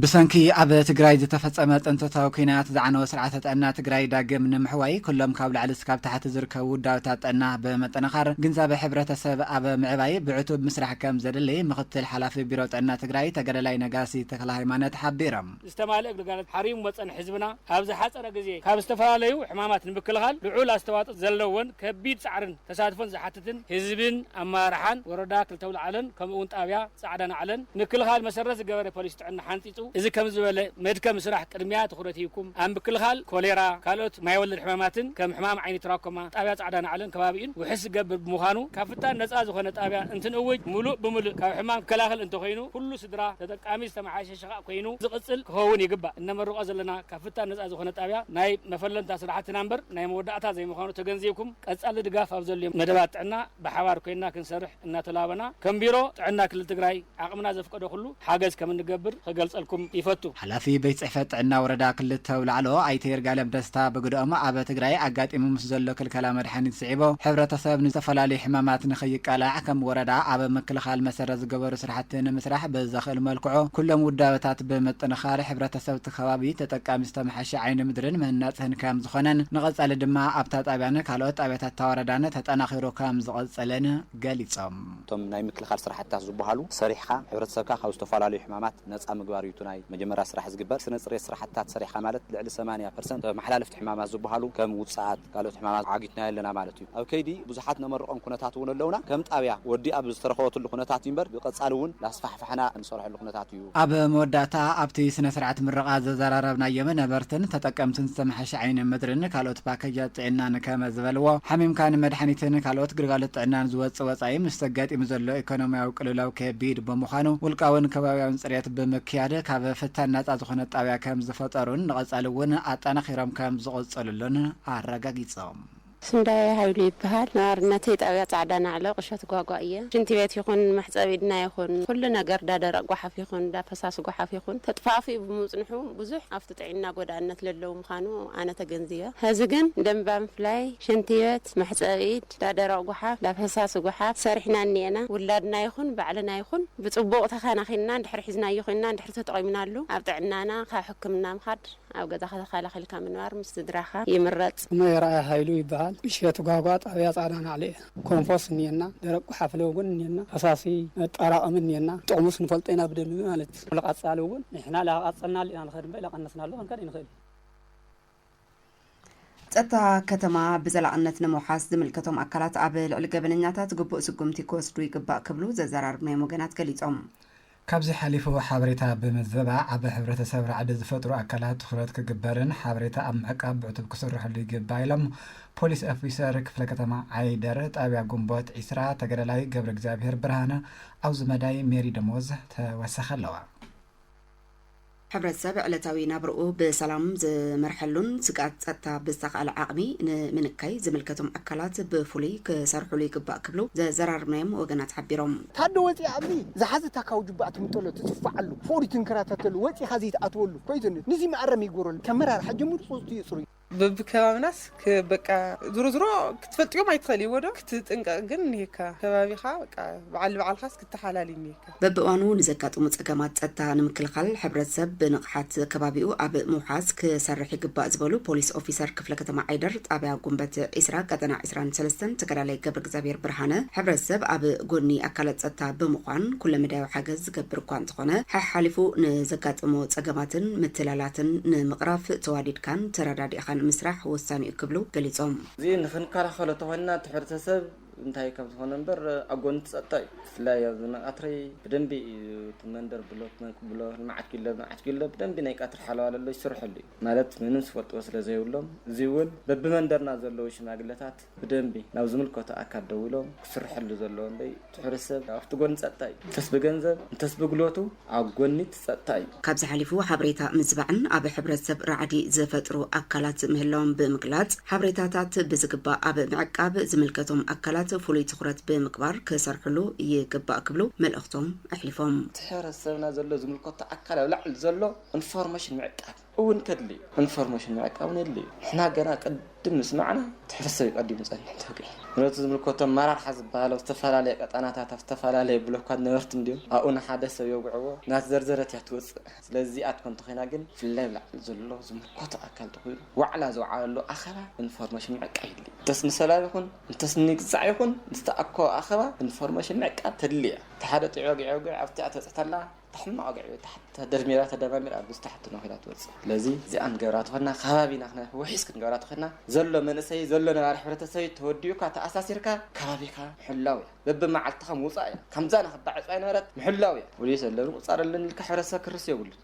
ብሰንኪ ኣብ ትግራይ ዝተፈፀመ ፅንተታዊ ኲናት ዝዓነወ ስርዓተ ጥዕና ትግራይ ዳግም ንምሕዋይ ኩሎም ካብ ላዕሊ እስካብ ታሕቲ ዝርከቡ ውዳበታት ጥዕና ብምጥንኻር ግንዛበ ሕብረተሰብ ኣብ ምዕባይ ብዕቱብ ምስራሕ ከም ዘድሊ ምኽትል ሓላፊ ቢሮ ጥዕና ትግራይ ተጋዳላይ ነጋሲ ተክለሃይማነት ሓቢሮም። ዝተማልእ ግልጋሎት ሓሪሙ መፀን ህዝብና ኣብ ዝሓፀረ ግዜ ካብ ዝተፈላለዩ ሕማማት ንምክልኻል ልዑል ኣስተዋፅኦ ዘለወን ከቢድ ፃዕርን፣ ተሳትፎን ዝሓትትን ህዝብን ኣመራርሓን ወረዳ ክልተ ኣውላዕሎን ከምኡ እውን ጣብያ ፃዕዳ ናዕለን ምክልኻል መሰረት ዝገበረ ፖሊሲ ጥዕና ሓንፂፁ እዚ ከምዚ ዝበለ መድከሚ ስራሕ ቅድሚያ ትኹረት ሂብኩም ኣብ ምክልኻል ኮሌራ ካልኦት ማይ ወለድ ሕማማትን ከም ሕማም ዓይኒ ትራኮማ ጣብያ ፃዕዳ ናዕለን ከባቢኡን ውሕስ ዝገብር ብምዃኑ ካብ ፍታን ነፃ ዝኾነ ጣብያ እንትንእውጅ ሙሉእ ብሙልእ ካብ ሕማም ክከላኸል እንተኾይኑ ኩሉ ስድራ ተጠቃሚ ዝተመሓየሸ ሸቓቕ ኮይኑ ዝቕጽል ክኸውን ይግባእ። እነመርቖ ዘለና ካብ ፍታን ነጻ ዝኾነ ጣብያ ናይ መፈለምታ ስራሕትና እምበር ናይ መወዳእታ ዘይምዃኑ ተገንዚብኩም ቀጻሊ ድጋፍ ኣብ ዘድልዮም መደባት ጥዕና ብሓባር ኮይንና ክንሰርሕ እናተላበና ከም ቢሮ ጥዕና ክልል ትግራይ ዓቕምና ዘፍቀዶ ኩሉ ሓገዝ ከም እንገብር ኽገልጸልኩም ይፈቱ። ሓላፊ ቤት ፅሕፈት ጥዕና ወረዳ ክልተ ኣውላዕሎ ኣይተ ይርጋለም ደስታ ብግደኦም፣ ኣብ ትግራይ ኣጋጢሙ ምስ ዘሎ ክልከላ መድሓኒት ስዒቡ ሕብረተሰብ ንዝተፈላለዩ ሕማማት ንክይቃላዕ ከም ወረዳ ኣብ ምክልኻል መሰረት ዝገበሩ ታሕቲ ንምስራሕ ብዘኽእል መልክዑ ኩሎም ውዳበታት ብምጥንኻር ሕብረተሰብ እቲ ከባቢ ተጠቃሚ ዝተመሓሸ ዓይኒ ምድርን ምህናፅ ህንከም ዝኾነን ንቐፃሊ ድማ ኣብታ ጣብያን ካልኦት ጣብያታት እታ ወረዳን ተጠናኺሩ ከምዝቕፅልን ገሊፆም። እቶም ናይ ምክልኻል ስራሕትታት ዝብሃሉ ሰሪሕኻ ሕብረተሰብካ ካብ ዝተፈላለዩ ሕማማት ነፃ ምግባር እዩ እቲ ናይ መጀመርያ ስራሕ ዝግበር። ስነ ፅርየት ስራሕትታት ሰሪሕኻ ማለት ልዕሊ ሰማንያ ፐርሰንት ተመሓላለፍቲ ሕማማት ዝብሃሉ ከም ውፅኣት፣ ካልኦት ሕማማት ዓጊትናዮ ኣለና ማለት እዩ። ኣብ ከይዲ ብዙሓት ነመርቖም ኩነታት እውን ኣለውና። ከም ጣብያ ወዲኣ ኣብ ዝተረኸበትሉ ኩነታት እዩ እምበር ብቐፃሊ እውን እናስፋሕፋሕና እንሰርሐሉ ኩነታት እዩ። ኣብ መወዳእታ ኣብቲ ስነ ስርዓት ምረቓ ዘዘራረብናዮም ነበርትን ተጠቀምትን ዝተመሓሸ ዓይኒ ምድሪን ካልኦት ፓኬጃት ጥዕናን ከመ ዝበልዎ ሓሚምካ ንመድሓኒትን ካልኦት ግልጋሎት ጥዕናን ዝወፅእ ወፃኢ ምስ ተጋጢሙ ዘሎ ኢኮኖሚያዊ ቅልውላው ከቢድ ብምዃኑ ውልቃውን ከባቢያውን ፅርየት ብምክያድ ካብ ፍታን ናፃ ዝኾነት ጣብያ ከም ዝፈጠሩን ንቐፃሊ እውን ኣጠናኺሮም ከም ዝቕፅሉ ከምዘሎን ኣረጋጊጾም። ስንዳየ ሃይሉ ይበሃል። ነባርነተይ ጣብያ ፃዕዳ ናዕሎ ቁሸት ጓጓ እየ። ሽንቲ ቤት ይኹን መሕፀቢ ኢድና ይኹን ኹሉ ነገር እዳ ደረቅ ጓሓፍ ይኹን እዳ ፈሳሲ ጓሓፍ ይኹን ተጥፋእፊኡ ብምፅንሑ ብዙሕ ኣፍቲ ጥዒና ጎዳእነት ለለዉ ምኻኑ ኣነ ተገንዚበ ሀዚ ግን ደምባ ምፍላይ ሽንቲ ቤት መሕፀቢ ኢድ እዳ ደረቅ ጓሓፍ እዳ ፈሳሲ ጓሓፍ ሰሪሕና እኒኤና ውላድና ይኹን ባዕልና ይኹን ብፅቡቅ ተኻናኺንና እንድሕር ሒዝናዮ ኹይንና እንድሕር ተጠቂምናሉ ኣብ ጥዕናና ካብ ሕክምና ምኻድ ኣብ ገዛኻ ተኸላኺልካ ምንባር ምስ ስድራኻ ይምረጽ። ስመይ ኣርኣያ ሃይሉ ይበሃል። እሸቱ ጋህጓ ጣብያ ፃዕዳ ናዕሊ እየ። ኮምፖስ እኒኤና፣ ደረቅ ጉሓፍለ እውን እኒኤና፣ ፈሳሲ መጣራቀሚ እኒኤና፣ ጥቅሙስ ንፈልጦ ኢና ብደንቢ ማለት እዩ። ንቀፃሊ እውን ንሕና ላቀፀልናሉ ኢና ንኸድ እምበር ላቀነስናሉ ክንከድ ኣይንኽእልን። ፀጥታ ከተማ ብዘላቕነት ንምውሓስ ዝምልከቶም ኣካላት ኣብ ልዕሊ ገበነኛታት ግቡእ ስጉምቲ ክወስዱ ይግባእ ክብሉ ዘዘራርብናዮም ወገናት ገሊፆም። ካብዚ ሓሊፉ ሓበሬታ ብምዝበባ ኣብ ሕብረተሰብ ራዕዲ ዝፈጥሩ ኣካላት ትኹረት ክግበርን ሓበሬታ ኣብ ምዕቃብ ብዕቱብ ክስረሐሉ ይግባእ ኢሎም ፖሊስ ኦፊሰር ክፍለ ከተማ ዓይደር ጣብያ ግንቦት ዒስራ ተጋዳላይ ገብረእግዚኣብሄር ብርሃነ ኣውዚ መዳይ ሜሪ ደሞዝ ተወሰኸለዋ። ሕብረተሰብ ዕለታዊ ናብርኡ ብሰላም ዝመርሐሉን ስግኣት ፀጥታ ብዝተኽኣለ ዓቕሚ ንምንካይ ዝምልከቶም ኣካላት ብፍሉይ ክሰርሑሉ ይግባእ ክብሉ ዘዘራረብናዮም ወገናት ሓቢሮም። ታደ ወጺኣ ኣብዚ ዝሓዚ ታካዊ ጁባኣ ትምጠሎ ትጽፋዓሉ ፍቅሪ ትንከራተተሉ ወጺኻ ዘይትኣትወሉ ኮይትኒ ንዚ መኣረሚ ይግበረሉ ከም መራርሓ ጀሚሩ ጹጽቱ የጽርዩ። በብከባብናስ በቃ ዝሮ ዝሮ ክትፈልጥዮም ኣይትኸእልዎ ዶ ክትጥንቀቕ ግን እኒሄካ ከባቢኻ በቃ በዓል ንበዓልኻስ ክተሓላል እዩ እኒሄካ። በብእዋኑ ንዘጋጥሙ ፀገማት ፀጥታ ንምክልኻል ሕብረተሰብ ብንቕሓት ከባቢኡ ኣብ ምውሓስ ክሰርሕ ይግባእ ዝበሉ ፖሊስ ኦፊሰር ክፍለ ከተማ ዓይደር ጣብያ ጉንበት ዒስራ ቀጠና ዕስራን ሰለስተን ተጋዳላይ ገብረእግዚኣብሄር ብርሃነ ሕብረተሰብ ኣብ ጎኒ ኣካላት ፀጥታ ብምዃን ኩለመዳያዊ ሓገዝ ዝገብር እኳ እንተኾነ፣ ሓሓሊፉ ንዘጋጥሞ ፀገማትን ምትላላትን ንምቕራፍ ተዋዲድካን ተረዳዲእኻን ምስራሕ ወሳኒ እዩ ክብሉ ገሊፆም። እዚ ንኽንከላኸሎ እንተኾይንና እቲ ሕብረተሰብ እንታይ ከም ዝኾነ እምበር ኣብ ጎኒ እቲ ፀጥታ እዩ። ብፍላይ ኣብዚ ናይ ቃትሪ ብደንቢ እዩ እቲ መንደር ብሎክ ብሎ ልምዓት ኪሎ ልምዓት ኪሎ ብደንቢ ናይ ቃትሪ ሓለዋ ለሎ ይስርሐሉ እዩ። ማለት ምንም ዝፈልጥዎ ስለዘይብሎም እዙይ እውን በቢመንደርና ዘለዉ ሽማግለታት፣ ብደንቢ ናብ ዝምልከቶ ኣካል ደዊሎም ክስርሐሉ ዘለዎ እምበይ እቲ ሕብረተሰብ ኣብቲ ጎኒ ፀጥታ እዩ። እንተስ ብገንዘብ እንተስ ብጉልበቱ ኣብ ጎኒ እቲ ፀጥታ እዩ። ካብዚ ሓሊፉ ሓበሬታ ምዝባዕን ኣብ ሕብረተሰብ ራዕዲ ዝፈጥሩ ኣካላት ምህላዎም ብምግላፅ ሓበሬታታት ብዝግባእ ኣብ ምዕቃብ ዝምልከቶም ኣካላት ፍሉይ ትኹረት ብምግባር ክሰርሕሉ ይግባእ ክብሉ መልእኽቶም ኣሕሊፎም። እቲ ሕብረተሰብና ዘሎ ዝምልከቶ ኣካል ኣብ ላዕሊ ዘሎ እንፎርሜሽን ምዕቃብ፣ እውን ከድሊ እዩ ኢንፎርሜሽን ምዕቃብ እውን የድሊ እዩ ንሕና ገና ቅድም ምስ ማዕና እቲ ሕብረተሰብ እዩ ቀዲሙ ዝፀንሕ እንተውቂዑ ነቲ ዝምልከቶ ኣመራርሓ ዝበሃል ኣብ ዝተፈላለየ ቀጣናታት ኣብ ዝተፈላለየ ብሎካት ነበርቲ እንድዮም ኣብኡ ንሓደ ሰብ የውግዕዎ እናተዘርዘረት እያ ትወፅእ ስለዚ እዚኣ ትኮን እንተኮይና ግን ብፍላይ ኣብ ላዕሊ ዘሎ ዝምልከቶ ኣካል ተኮይኑ ዋዕላ ዝወዓለሉ ኣኸባ ኢንፎርሜሽን ምዕቃብ የድሊ እዩ እንተስ ንሰላም ይኩን እንተስ ንግዛዕ ይኩን ንዝተኣኮበ ኣኸባ ኢንፎርሜሽን ምዕቃብ ተድሊ እያ እቲ ሓደ ጢዕ ወጊዕ የውግዕ ኣብቲ እያ ትበፅሕ ተላ እታ ሕማቕ ወግዒ እታ ሕቶ ተደርሚራ ተደማሚራ ኣብ ምስታ ሕቶ ኮይና ትወጽእ። ስለዚ እዚኣ ክንገብራ ተኾይና ከባቢና ክነርሒ ውሒስ ክንገብራ ተኾይና ዘሎ መንእሰይ ዘሎ ነባሪ ሕብረተሰብይ ተወዲኡካ ተኣሳሲርካ ከባቢኻ ምሕላው እያ። በብመዓልትኻ ምውጻእ እያ። ከምዛና ክባዕ ዕጽዋ ኣይነበረት ምሕላው እያ። ፖሊስ ኣለኒ ቁጻር ኣለኒ ኢልካ ሕብረተሰብ ክርስ የብሉን።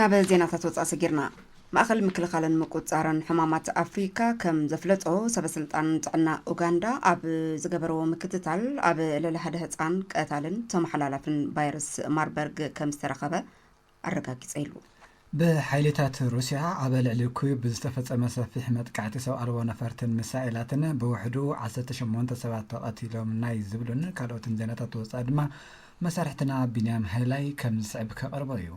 ናብ ዜናታት ወፃእ ሰጊርና ማእኸል ምክልኻልን ምቁፃርን ሕማማት ኣፍሪካ ከም ዘፍለጦ ሰበስልጣን ጥዕና ኡጋንዳ ኣብ ዝገበረዎ ምክትታል ኣብ ልዕሊ ሓደ ህፃን ቀታልን ተመሓላላፍን ቫይረስ ማርበርግ ከም ዝተረኸበ ኣረጋጊፀ ኢሉ ብሓይልታት ሩስያ ኣብ ልዕሊ ኩዩብ ብዝተፈፀመ ሰፊሕ መጥቃዕቲ ሰብ ኣልቦ ነፈርትን ሚሳኤላትን ብውሕዱ 18 ሰባት ተቐቲሎም ናይ ዝብሉን ካልኦትን ዜናታት ወፃኢ ድማ መሳርሕትና ቢንያም ሃይላይ ከም ዝስዕብ ከቕርቦ እዩ።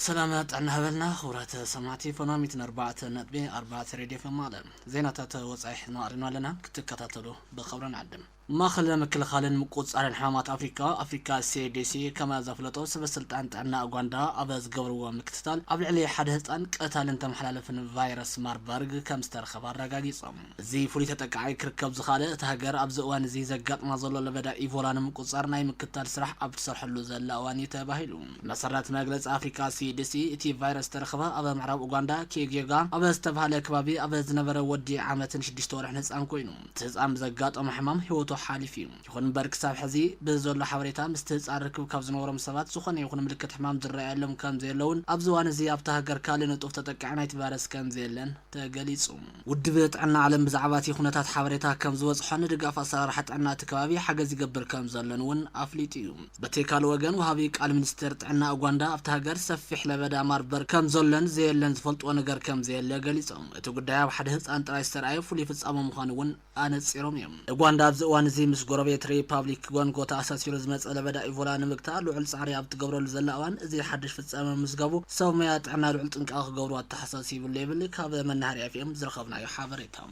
ሰላም ጥዕና ሃበልና ክቡራት ሰማዕቲ ፎናሚት ንኣርባዕተ ነጥቢ ኣርባዕተ ሬድዮ ፈማለ ዜናታት ወፃኢ ሒዝና ቀሪብና ኣለና ክትከታተሉ ብኸብሪ ንዕድም ማእኸል ምክልኻልን ምቁፅፃርን ሕማማት ኣፍሪካ፣ ኣፍሪካ CDC፣ ከም ዘፍለጦ ሰበ ስልጣን ጥዕና ኡጋንዳ ኣብ ዝገበርዎ ምክትታል ኣብ ልዕሊ ሓደ ህፃን ቀታልን ተመሓላለፍን ቫይረስ ማርበርግ ከም ዝተረኸበ ኣረጋጊፆም። እዚ ፍሉይ ተጠቃዒ ክርከብ ዝኸኣለ እታ ሃገር ኣብዚ እዋን እዚ ዘጋጥማ ዘሎ ለበዳ ኢቮላ ንምቁፅፃር ናይ ምክትታል ስራሕ ኣብ ትሰርሐሉ ዘላ እዋን እዩ ተባሂሉ። ብመሰረት መግለፂ ኣፍሪካ CDC እቲ ቫይረስ ዝተረኸበ ኣብ ምዕራብ ኡጋንዳ ኪጌጋ ኣብ ዝተብሃለ ከባቢ ኣብ ዝነበረ ወዲ ዓመትን ሽዱሽተ ወርሕን ህፃን ኮይኑ፣ እቲ ህጻን ብዘጋጠሞ ሕማም ህይወቱ ሓሊፉ እዩ። ይኹን እምበር ክሳብ ሕዚ ብዘሎ ሓበሬታ ምስቲ ህጻን ርክብ ካብ ዝነበሮም ሰባት ዝኾነ ይኹን ምልክት ሕማም ዝረኣየሎም ከምዘየለውን ኣብዚ እዋን እዚ ኣብታ ሃገር ካልእ ንጡፍ ተጠቃዒ ናይቲ ቫይረስ ከምዘየለን ተገሊጹ። ውድብ ጥዕና ዓለም ብዛዕባ እቲ ኩነታት ሓበሬታ ከምዝበጽሖን ንድጋፍ ኣሰራርሓ ጥዕና እቲ ከባቢ ሓገዝ ይገብር ከምዘሎን እውን ኣፍሊጡ እዩ። በቲ ካልእ ወገን ወሃቢ ቃል ሚኒስቴር ጥዕና ኡጓንዳ ኣብታ ሃገር ሰፊሕ ለበዳ ማርበርግ ከምዘሎን ዘየለን ዝፈልጥዎ ነገር ከምዘየለ ገሊጾም። እቲ ጉዳይ ኣብ ሓደ ህጻን ጥራይ ዝተርኣየ ፍሉይ ፍጻመ ምዃኑ እውን ኣነጺሮም እዮም። ኡጓንዳ ኣብዚ እዋን እዚ ምስ ጎረቤት ሪፓብሊክ ጎንጎ ተኣሳሲሩ ዝመጸ ለበዳ ኢቮላ ንምግታእ ልዑል ጻዕሪ ኣብ እትገብረሉ ዘላ እዋን እዚ ሓድሽ ፍጻመ ምምዝጋቡ ሰብ ሞያ ጥዕና ልዑል ጥንቃቐ ክገብሩ ኣተሓሳሲቡ'ሎ ይብል ካብ መናሃርያ ኤፍኤም ዝረኸብናዮ ሓበሬታ።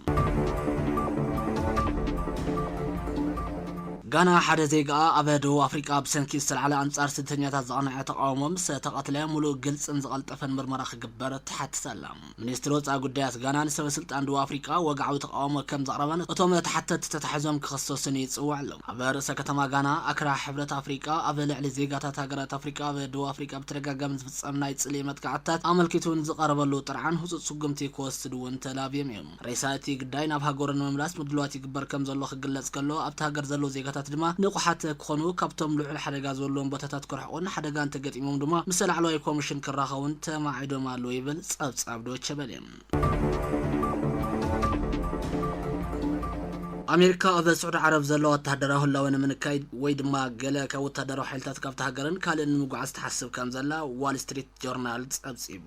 ጋና ሓደ ዜጋኣ ኣብ ደቡብ ኣፍሪቃ ብሰንኪ ዝተልዓለ ኣንጻር ስደተኛታት ዝቐንዐ ተቓውሞ ምስ ተቐትለ ምሉእ ግልጽን ዝቐልጠፈን ምርመራ ክግበር ትሓትት ኣላ። ሚኒስትሪ ወጻኢ ጉዳያት ጋና ንሰበስልጣን ደቡብ ኣፍሪቃ ወግዓዊ ተቓውሞ ከም ዘቕረበን እቶም ተሓተትቲ ተታሒዞም ክኽሰሱን ይጽውዕ ኣሎ። ኣብ ርእሰ ከተማ ጋና ኣክራ ሕብረት ኣፍሪቃ ኣብ ልዕሊ ዜጋታት ሃገራት ኣፍሪቃ ኣብ ደቡብ ኣፍሪቃ ብተደጋጋሚ ምፍጻም ናይ ጽልኢ መጥቃዕትታት ኣመልኪቱ ንዝቐረበሉ ጥርዓን ህጹጽ ስጉምቲ ክወስድ እውን ተላብዮም እዮም። ሬሳ እቲ ግዳይ ናብ ሃገሩ ንምምላስ ምድላዋት ይግበር ከም ዘሎ ክግለጽ ከሎ፣ ኣብታ ሃገር ዘለዉ ዜጋታት ድማ ንቑሓት ክኾኑ፣ ካብቶም ልዑል ሓደጋ ዝበሉዎም ቦታታት ክርሕቑን ሓደጋ እንተገጢሞም ድማ ምስ ላዕለዋይ ኮሚሽን ክራኸቡን ተማዒዶም ኣለዉ ይብል ጸብጻብ ዶቸበሌ። ኣሜሪካ ኣብ ስዑዲ ዓረብ ዘሎ ወተሃደራዊ ህላወ ንምንካይ ወይ ድማ ገለ ካብ ወተሃደራዊ ሓይልታት ካብቲ ሃገርን ካልእን ንምጉዓዝ ትሓስብ ከም ዘላ ዋል ስትሪት ጆርናል ጸብጺቡ።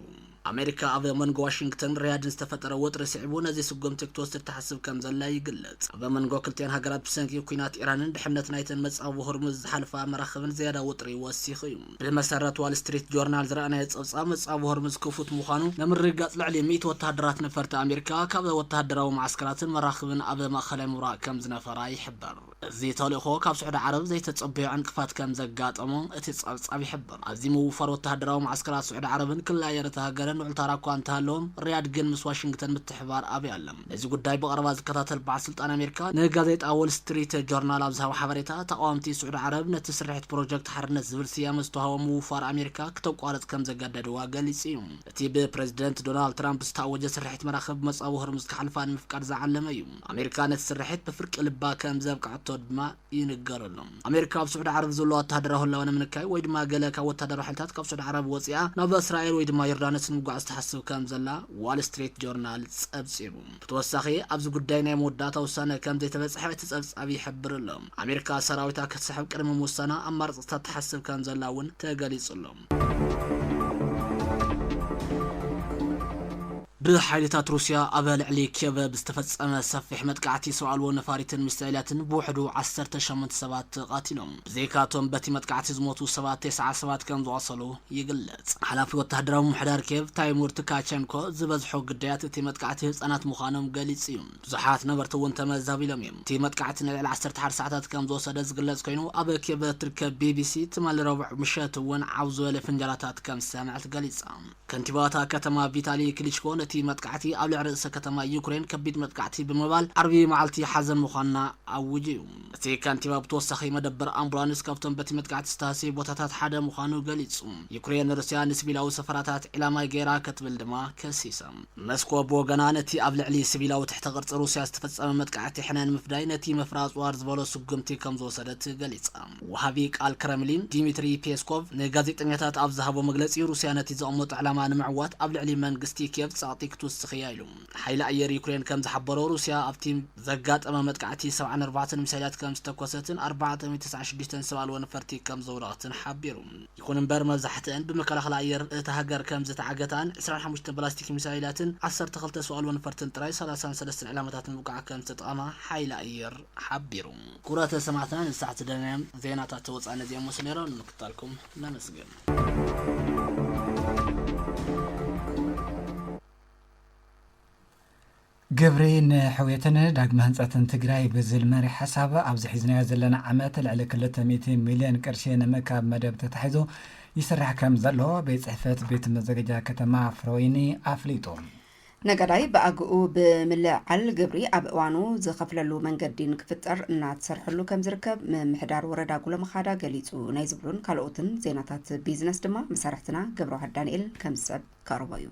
ኣሜሪካ ኣብ መንጎ ዋሽንግተን ሪያድን ዝተፈጠረ ወጥሪ ስዒቡ ነዚ ስጉምቲ ክትወስድ ትሓስብ ከም ዘላ ይግለጽ። ኣብ መንጎ ክልቲኣን ሃገራት ብሰንኪ ኲናት ኢራንን ድሕነት ናይተን መጻብቦ ሆርሙዝ ዝሓልፋ መራኽብን ዝያዳ ወጥሪ ወሲኹ እዩ። ብመሰረት ዋል ስትሪት ጆርናል ዝረኣናዮ ጸብጻብ፣ ጸብ ሆርምዝ ክፉት ምዃኑ ንምርግጋጽ ልዕሊ ሚእቲ ወተሃደራት ነፈርቲ ኣሜሪካ ካብ ወተሃደራዊ መዓስከራትን መራኽብን ኣብ ማእከላይ ምብራቕ ከም ዝነፈራ ይሕብር። እዚ ተልእኾ ካብ ስዑዲ ዓረብ ዘይተጸበዮ ዕንቅፋት ከም ዘጋጠሞ እቲ ጸብጻብ ይሕብር። ኣዝዩ ምውፋር ወተሃደራዊ መዓስከራት ስዑዲ ዓረብን ክልል ኣየር እታ ሃገርን ልዑል ታራ እኳ እንተሃለዎም፣ ሪያድ ግን ምስ ዋሽንግተን ምትሕብባር ኣብያ ኣላ። ነዚ ጉዳይ ብቐረባ ዝከታተል በዓል ስልጣን ኣሜሪካ ንጋዜጣ ዎል ስትሪት ጆርናል ኣብ ዝሃቦ ሓበሬታ፣ ተቓወምቲ ስዑዲ ዓረብ ነቲ ስርሒት ፕሮጀክት ሓርነት ዝብል ስያመ ዝተዋህቦ ምውፋር ኣሜሪካ ክተቋርጽ ከም ዘገደድዋ ገሊጹ እዩ። እቲ ብፕረዚደንት ዶናልድ ትራምፕ ዝተኣወጀ ስርሒት መራኽብ መጻብቦ ሆርሙዝ ክሓልፋ ንምፍቃድ ዝዓለመ እዩ። ኣሜሪካ ነቲ ስርሒት ብፍርቂ ልባ ከም ዘብቅዐቶ ድማ፣ ይንገረሎም። ኣሜሪካ ኣብ ስዑዲ ዓረብ ዘሎ ወተሃደራዊ ህላወ ንምንካይ ወይ ድማ ገለ ካብ ወተሃደራዊ ሓይልታት ካብ ስዑዲ ዓረብ ወጺኣ ናብ እስራኤል ወይ ድማ ዮርዳኖስ ንምጉዓዝ ትሓስብ ከም ዘላ ዋል ስትሪት ጆርናል ጸብጺቡ። ብተወሳኺ ኣብዚ ጉዳይ ናይ መወዳእታ ውሳነ ከም ዘይተበጽሐ እቲ ጸብጻብ ይሕብር ኣሎ። ኣሜሪካ ሰራዊታ ክትስሕብ ቅድሚ ምውሳና ኣማራጽታት ትሓስብ ከም ዘላ እውን ተገሊጹ ኣሎ። ብሓይልታት ሩስያ ኣብ ልዕሊ ኬቭ ብዝተፈጸመ ሰፊሕ መጥቃዕቲ ሰብ ኣልቦ ነፋሪትን ሚሳኤላትን ብውሕዱ ዓሰርተ ሸሞንተ ሰባት ተቓቲሎም። ብዘይካ'ቶም በቲ መጥቃዕቲ ዝሞቱ ሰባት ተስዓ ሰባት ከም ዝቖሰሉ ይግለጽ። ሓላፊ ወተሃደራዊ ምምሕዳር ኬቭ ታይሙር ትካቸንኮ፣ ዝበዝሑ ግዳያት እቲ መጥቃዕቲ ህጻናት ምዃኖም ገሊጹ'ዩ። ብዙሓት ነበርቲ እውን ተመዛቢሎም እዮም። እቲ መጥቃዕቲ ንልዕሊ ዓሰርተ ሓደ ሰዓታት ከም ዝወሰደ ዝግለጽ ኮይኑ፣ ኣብ ኬቭ እትርከብ ቢቢሲ፣ ትማሊ ረቡዕ ምሸት እውን ዓው ዝበለ ፍንጃላታት ከም ዝሰምዐት ገሊጻ። ከንቲባ እታ ከተማ ቪታሊ ክሊችኮ ነቲ መጥቃዕቲ ኣብ ልዕሊ ርእሰ ከተማ ዩክሬን ከቢድ መጥቃዕቲ ብምባል ዓርቢ መዓልቲ ሓዘን ምዃና ኣዊጁ እዩ። እቲ ከንቲባ ብተወሳኺ መደበር ኣምቡላንስ ካብቶም በቲ መጥቃዕቲ ዝተሃስዩ ቦታታት ሓደ ምዃኑ ገሊጹ። ዩክሬን ንሩስያ ንሲቪላዊ ሰፈራታት ዒላማ ገይራ ክትብል ድማ ከሲሳ። መስኮ ብወገና ነቲ ኣብ ልዕሊ ስቪላዊ ትሕተ ቅርጺ ሩስያ ዝተፈጸመ መጥቃዕቲ ሕነ ንምፍዳይ ነቲ ምፍራጹ ኣርዝበሎ ስጉምቲ ከምዝወሰደት ገሊጻ። ወሃቢ ቃል ክረምሊን ዲሚትሪ ፔስኮቭ ንጋዜጠኛታት ኣብ ዝሃቦ መግለጺ ሩስያ ነቲ ዘቐመጦ ዕላማ ንምዕዋት ኣብ ልዕሊ መንግስቲ ኪየቭ ጸቕጢ ክትውስኽ'ያ ኢሉ። ሓይሊ ኣየር ዩክሬን ከምዝሓበሮ ሩስያ ኣብቲ ዘጋጠመ መጥቃዕቲ ሰብዓን ኣርባዕተን ሚሳይላት ከምዝተኮሰትን ኣርባዕተ ሚእቲ ተስዓን ሽዱሽተን ሰብ ኣልቦ ነፈርቲ ከምዘውደቐትን ሓቢሩ። ይኹን እምበር መብዛሕትኣን ብመከላኸሊ ኣየር እታ ሃገር ከም ዝተዓገታን ዕስራን ሓሙሽተ ባላስቲክ ሚሳይላትን ዓሰርተ ክልተ ሰው ኣልቦ ነፈርትን ጥራይ ሰላሳን ሰለስተን ዕላማታት ንምውቃዕ ከም ዝተጠቐማ ሓይሊ ኣየር ሓቢሩ። ክቡራት ሰማዕትና ንሳዕ ዝደለናዮም ዜናታት ወፃኢ ነዚኦም መሰሉ ነይሮም። ንምክትታልኩም ነመስግን። ግብሪ ንሕውየትን ዳግመ ህንፀትን ትግራይ ብዝል መሪሕ ሓሳብ ኣብዚ ሒዝናዮ ዘለና ዓመት ልዕሊ ክልተ ሚእቲ ሚልዮን ቅርሺ ንምእካብ መደብ ተታሒዙ ይስራሕ ከምዘሎ ቤት ፅሕፈት ቤት መዘገጃ ከተማ ፍረወይኒ ኣፍሊጡ። ነጋዳይ ብኣግኡ ብምልዕዓል ግብሪ ኣብ እዋኑ ዝኸፍለሉ መንገዲ ንክፍጠር እናተሰርሐሉ ከምዝርከብ ምምሕዳር ወረዳ ጉሎመኻዳ ገሊፁ። ናይ ዝብሉን ካልኦትን ዜናታት ቢዝነስ ድማ መሳርሕትና ገብረዋህድ ዳንኤል ከምዝስዕብ ከቕርቦ እዩ።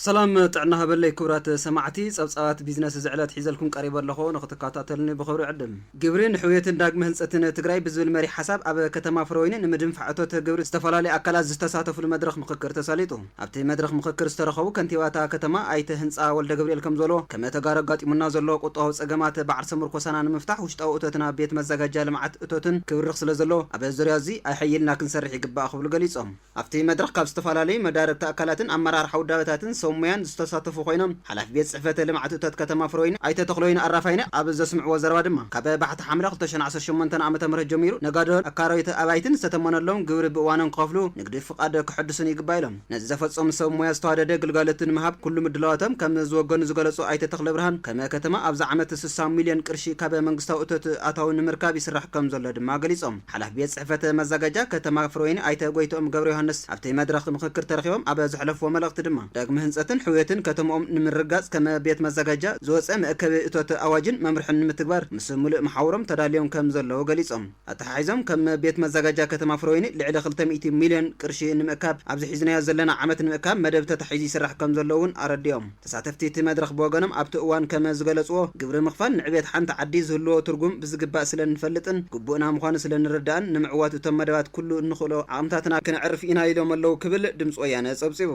ሰላም ጥዕና ሃበለይ ክብራት ሰማዕቲ ጸብጻባት ቢዝነስ እዚ ዕለት ሒዘልኩም ቀሪበ ኣለኹ ንክትከታተሉኒ ብኽብሪ ዕድም። ግብሪ ንሕውየትን ዳግመ ህንጸትን ትግራይ ብዝብል መሪሕ ሓሳብ ኣብ ከተማ ፍረወይኒ ንምድንፋዕ እቶት ግብሪ ዝተፈላለዩ ኣካላት ዝተሳተፍሉ መድረኽ ምኽክር ተሳሊጡ። ኣብቲ መድረኽ ምኽክር ዝተረኸቡ ከንቲባ እታ ከተማ ኣይተ ህንፃ ወልደገብርኤል ከምዝበልዎ፣ ከም ተጋሩ ኣጋጢሙና ዘሎ ቁጠባዊ ፀገማት ብዓርሰ ምርኮሳና ንምፍታሕ ውሽጣዊ እቶትና ቤት መዘጋጃ ልምዓት እቶትን ክብርኽ ስለዘለዎ ኣብ ዙርያ እዚ ኣይሐይልና ክንሰርሕ ይግባእ ክብሉ ገሊፆም። ኣብቲ መድረኽ ካብ ዝተፈላለዩ መዳርግቲ ኣካላትን ኣመራርሓ ውዳበታትን ሰብ ሞያን ዝተሳተፉ ኮይኖም ሓላፊ ቤት ፅሕፈት ልምዓት እቶት ከተማ ፍረወይኒ ኣይተ ተኽለወይኒ ኣራፋይነ ኣብ ዘስምዕዎ ዘረባ ድማ ካብ ባሕቲ ሓምለ ክልተ ሽሕን ዓሰርተ ሸሞንተን ዓመተ ምህረት ጀሚሩ ነጋዶን ኣካረይቲ ኣባይትን ዝተተመነሎም ግብሪ ብእዋኑ ንክኸፍሉ ንግዲ ፍቓድ ከሐድሱን ይግባእ ኢሎም። ነዚ ዘፈፀሙ ሰብ ሞያ ዝተዋደደ ግልጋሎት ንምሃብ ኩሉ ምድላዋቶም ከም ዝወገኑ ዝገለፁ ኣይተ ተኽለብርሃን፣ ከም ከተማ ኣብዚ ዓመት ስሳ ሚሊዮን ቅርሺ ካብ መንግስታዊ እቶት ኣታዊ ንምርካብ ይስራሕ ከም ዘሎ ድማ ገሊፆም። ሓላፊ ቤት ፅሕፈት መዘጋጃ ከተማ ፍረወይኒ ኣይተ ጎይትኦም ገብረዮሃንስ ኣብቲ መድረኽ ምኽክር ተረኺቦም ኣብ ዘሕለፍዎ መልእኽቲ ድማ፣ ዳግመ ህንፀትን ሕውየትን ከተምኦም ንምርግጋፅ ከም ቤት መዘጋጃ ዝወፀ መእከቢ እቶት ኣዋጅን መምርሕን ንምትግባር ምስ ሙሉእ መሓውሮም ተዳልዮም ከም ዘለዉ ገሊፆም። ኣተሓሒዞም ከም ቤት መዘጋጃ ከተማ ፍረወይኒ ልዕሊ ክልተ ሚእቲ ሚልዮን ቅርሺ ንምእካብ ኣብዚ ሒዝናዮ ዘለና ዓመት ንምእካብ መደብ ተታሒዙ ይስራሕ ከም ዘሎ እውን ኣረዲኦም። ተሳተፍቲ እቲ መድረኽ ብወገኖም ኣብቲ እዋን ከመ ዝገለፅዎ ግብሪ ምኽፋል ንዕቤት ሓንቲ ዓዲ ዝህልዎ ትርጉም ብዝግባእ ስለ እንፈልጥን ግቡእና ምዃኑ ስለ ንርዳእን ንምዕዋት እቶም መደባት ኩሉ እንኽእሎ ዓቕምታትና ክነዕርፍ ኢና ኢሎም ኣለው ክብል ድምፂ ወያነ ፀብፂቡ።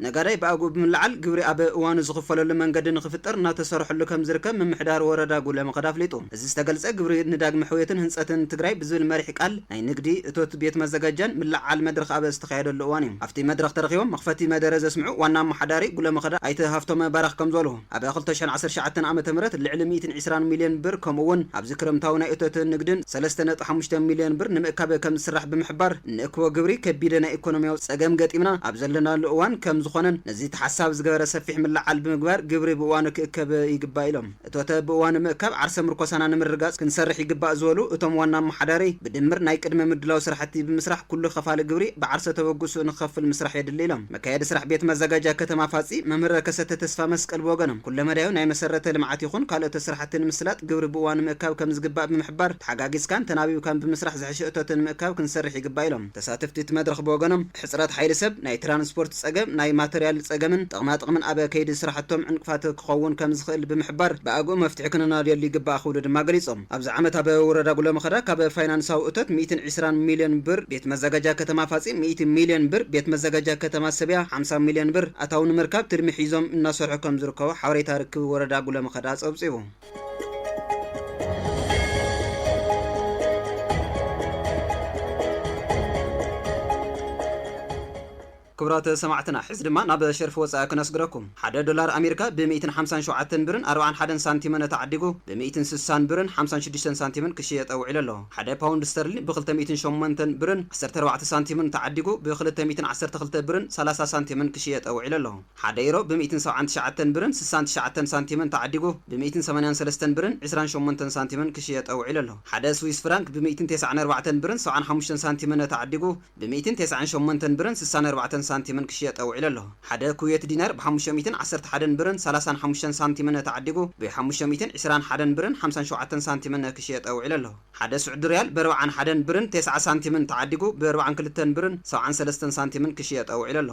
ነጋዳይ ብኣግኡ ብምልዓል ግብሪ ኣብ እዋኑ ዝኽፈለሉ መንገዲ ንኽፍጠር እናተሰርሐሉ ከምዝርከብ ምምሕዳር ወረዳ ጉለ መኸዳ ኣፍሊጡ። እዚ ዝተገልፀ ግብሪ ንዳግመ ሕውየትን ህንፀትን ትግራይ ብዝብል መሪሕ ቃል ናይ ንግዲ፣ እቶት፣ ቤት መዘጋጃን ምልዕዓል መድረኽ ኣብ ዝተኻየደሉ እዋን እዩ። ኣብቲ መድረኽ ተረኺቦም መኽፈቲ መደረ ዘስምዑ ዋና ኣማሓዳሪ ጉለ መኸዳ ኣይተ ሃፍቶመ ባራኽ ከምዝበልዎ፣ ኣብ ክልተ ሽሕን ዓሰርተ ትሽዓተን ዓመተ ምህረት ልዕሊ ሚእትን ዒስራን ሚልዮን ብር ከምኡ እውን ኣብዚ ክረምታዊ ናይ እቶትን ንግድን ሰለስተ ነጥቢ ሓሙሽተ ሚልዮን ብር ንምእካብ ከምዝስራሕ ብምሕባር እንእክቦ ግብሪ ከቢደ ናይ ኢኮኖሚያዊ ፀገም ገጢምና ኣብ ዘለናሉ እዋን ከምዝኾነን ነዚ ተሓሳቢ ዝገበረ ሰፊሕ ምልዕዓል ብምግባር ግብሪ ብእዋኑ ክእከብ ይግባእ ኢሎም። እቶተ ብእዋኑ ምእካብ ዓርሰ ምርኮሳና ንምርግጋፅ ክንሰርሕ ይግባእ ዝበሉ እቶም ዋና ኣመሓዳሪ ብድምር ናይ ቅድመ ምድላው ስራሕቲ ብምስራሕ ኩሉ ከፋሊ ግብሪ ብዓርሰ ተበግሶኡ ንክኸፍል ምስራሕ የድሊ ኢሎም። መካየዲ ስራሕ ቤት መዘጋጃ ከተማ ፋፂ መምህር ከሰተ ተስፋመስቀል ብወገኖም ኩለመዳያዊ ናይ መሰረተ ልምዓት ይኹን ካልኦተ ስራሕቲ ንምስላጥ ግብሪ ብእዋኑ ምእካብ ከምዝግባእ ብምሕባር ተሓጋጊዝካን ተናቢብካን ብምስራሕ ዝሐሸ እቶተ ንምእካብ ክንሰርሕ ይግባእ ኢሎም። ተሳተፍቲ እቲ መድረኽ ብወገኖም ሕፅረት ሓይሊ ሰብ፣ ናይ ትራንስፖርት ፀገም፣ ናይ ማተርያል ፀገምን ጥቕማጥቕምን ኣብ ከይዲ ስራሕቶም ዕንቅፋት ክኸውን ከምዝኽእል ብምሕባር ብኣግኡ መፍትሒ ክንናድየሉ ይግባእ ክብሉ ድማ ገሊፆም። ኣብዚ ዓመት ኣብ ውረዳ ጉለመኸዳ ካብ ፋይናንሳዊ እቶት ሚእትን ዒስራን ሚልዮን ብር ቤት መዘጋጃ ከተማ ፋፂ ሚእቲ ሚልዮን ብር ቤት መዘጋጃ ከተማ ሰብያ ሓምሳ ሚልዮን ብር ኣታዊ ንምርካብ ትልሚ ሒዞም እናሰርሑ ከምዝርከቡ ሓበሬታ ርክብ ወረዳ ጉለመኸዳ ፀብፂቡ። ክቡራት ሰማዕትና ሕዚ ድማ ናብ ሸርፊ ወጻኢ ክነስግረኩም። ሓደ ዶላር ኣሜሪካ ብ ሚእትን ሓምሳን ሸውዓተን ብርን ኣርብዓን ሓደን ሳንቲምን ተዓዲጉ ብ ሚእትን ስሳን ብርን ሓምሳን ሽዱሽተን ሳንቲምን ክሽየጠ ውዒሉ ኣሎ። ሓደ ፓውንድ ስተርሊን ብ ክልተ ሚእትን ሸሞንተን ብርን ዓሰርተ ኣርባዕተ ሳንቲምን ተዓዲጉ ብ ክልተ ሚእትን ዓሰርተ ክልተ ብርን ሰላሳ ሳንቲምን ክሽየጠ ውዒሉ ኣሎ። ሓደ ኢሮ ብ ሚእትን ሰብዓን ትሽዓተን ብርን ስሳን ትሽዓተን ሳንቲምን ተዓዲጉ ብ ሚእትን ሰማንያን ሰለስተን ብርን ዕስራን ሸሞንተን ሳንቲምን ክሽየጠ ውዒሉ ኣሎ። ሓደ ስዊስ ፍራንክ ብ ሚእትን ቴስዓን ኣርባዕተን ብርን ሰብዓን ሓሙሽተን ሳንቲምን ተዓዲጉ ብሚእትን ቴስዓን ሸሞንተን ብርን ስሳን ኣርባዕተን ሳንቲምን ክሽየጥ ተውዒሉ ኣሎ። ሓደ ኩዌት ዲናር ብሓሙሽተ ሚእትን ዓሰርተ ሓደን ብርን ሰላሳን ሓሙሽተን ሳንቲምን ተዓዲጉ ብሓሙሽተ ሚእትን ዕስራን ሓደን ብርን ሓምሳን ሸውዓተን ሳንቲምን ክሽየጥ ተውዒሉ ኣሎ። ሓደ ስዑዲ ሪያል ብኣርብዓን ሓደን ብርን ቴስዓ ሳንቲምን ተዓዲጉ ብኣርብዓን ክልተን ብርን ሰብዓን ሰለስተን ሳንቲምን ክሽየጥ ተውዒሉ ኣሎ።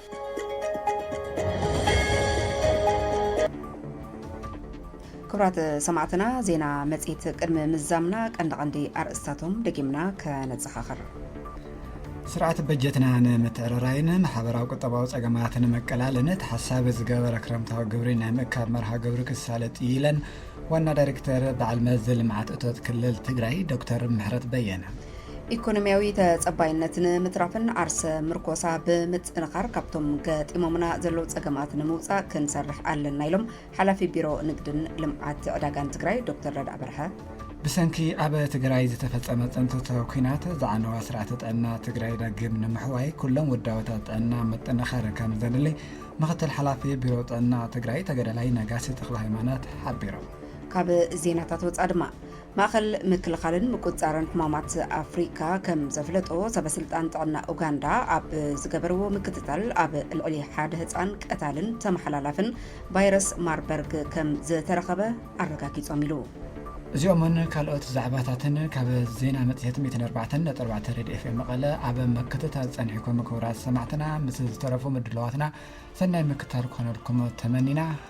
ክብራት ሰማዕትና ዜና መጽሔት ቅድሚ ምዛምና ቀንዲ ቀንዲ ኣርእስታቶም ደጊምና ከነዘኻኽር ስርዓት በጀትና ንምትዕርራይን ማሕበራዊ ቁጠባዊ ጸገማት ንምቅላልን ተሓሳቢ ዝገበረ ክረምታዊ ግብሪ ናይ ምእካብ መርሃ ግብሪ ክሳለጥ ኢለን ዋና ዳይሬክተር በዓል መዚ ልምዓት እቶት ክልል ትግራይ ዶክተር ምሕረት በየነ ኢኮኖሚያዊ ተፀባይነት ንምትራፍን ዓርሰ ምርኮሳ ብምጥንኻር ካብቶም ገጢሞምና ዘለዉ ፀገማት ንምውፃእ ክንሰርሕ ኣለና ኢሎም ሓላፊ ቢሮ ንግድን ልምዓት ዕዳጋን ትግራይ ዶክተር ረድኣ በርሀ። ብሰንኪ ኣብ ትግራይ ዝተፈፀመ ፅንተተ ኩናት ዝዓነዋ ስርዓተ ጥዕና ትግራይ ዳግም ንምሕዋይ ኩሎም ውዳበታት ጥዕና ምጥንኻር ከም ዘድሊ ምክትል ሓላፊ ቢሮ ጥዕና ትግራይ ተገዳላይ ነጋሲ ተክለ ሃይማኖት ሓቢሮም። ካብ ዜናታት ወፃ ድማ ማእኸል ምክልኻልን ምቁፅፃርን ሕማማት ኣፍሪካ ከም ዘፍለጦ ሰበ ስልጣን ጥዕና ኡጋንዳ ኣብ ዝገበርዎ ምክትታል ኣብ ልዕሊ ሓደ ህፃን ቀታልን ተመሓላላፍን ቫይረስ ማርበርግ ከም ዝተረኸበ ኣረጋጊፆም ኢሉ። እዚኦምን ካልኦት ዛዕባታትን ካብ ዜና መፅሄት ሚእትን ኣርባዕተን ነጥቢ ኣርባዕተ ሬድዮ ኤፍኤም መቐለ ኣብ ምክትታል ፀኒሕኩም ክቡራት ሰማዕትና ምስ ዝተረፉ ምድላዋትና ሰናይ ምክትታል ክኾነልኩም ተመኒና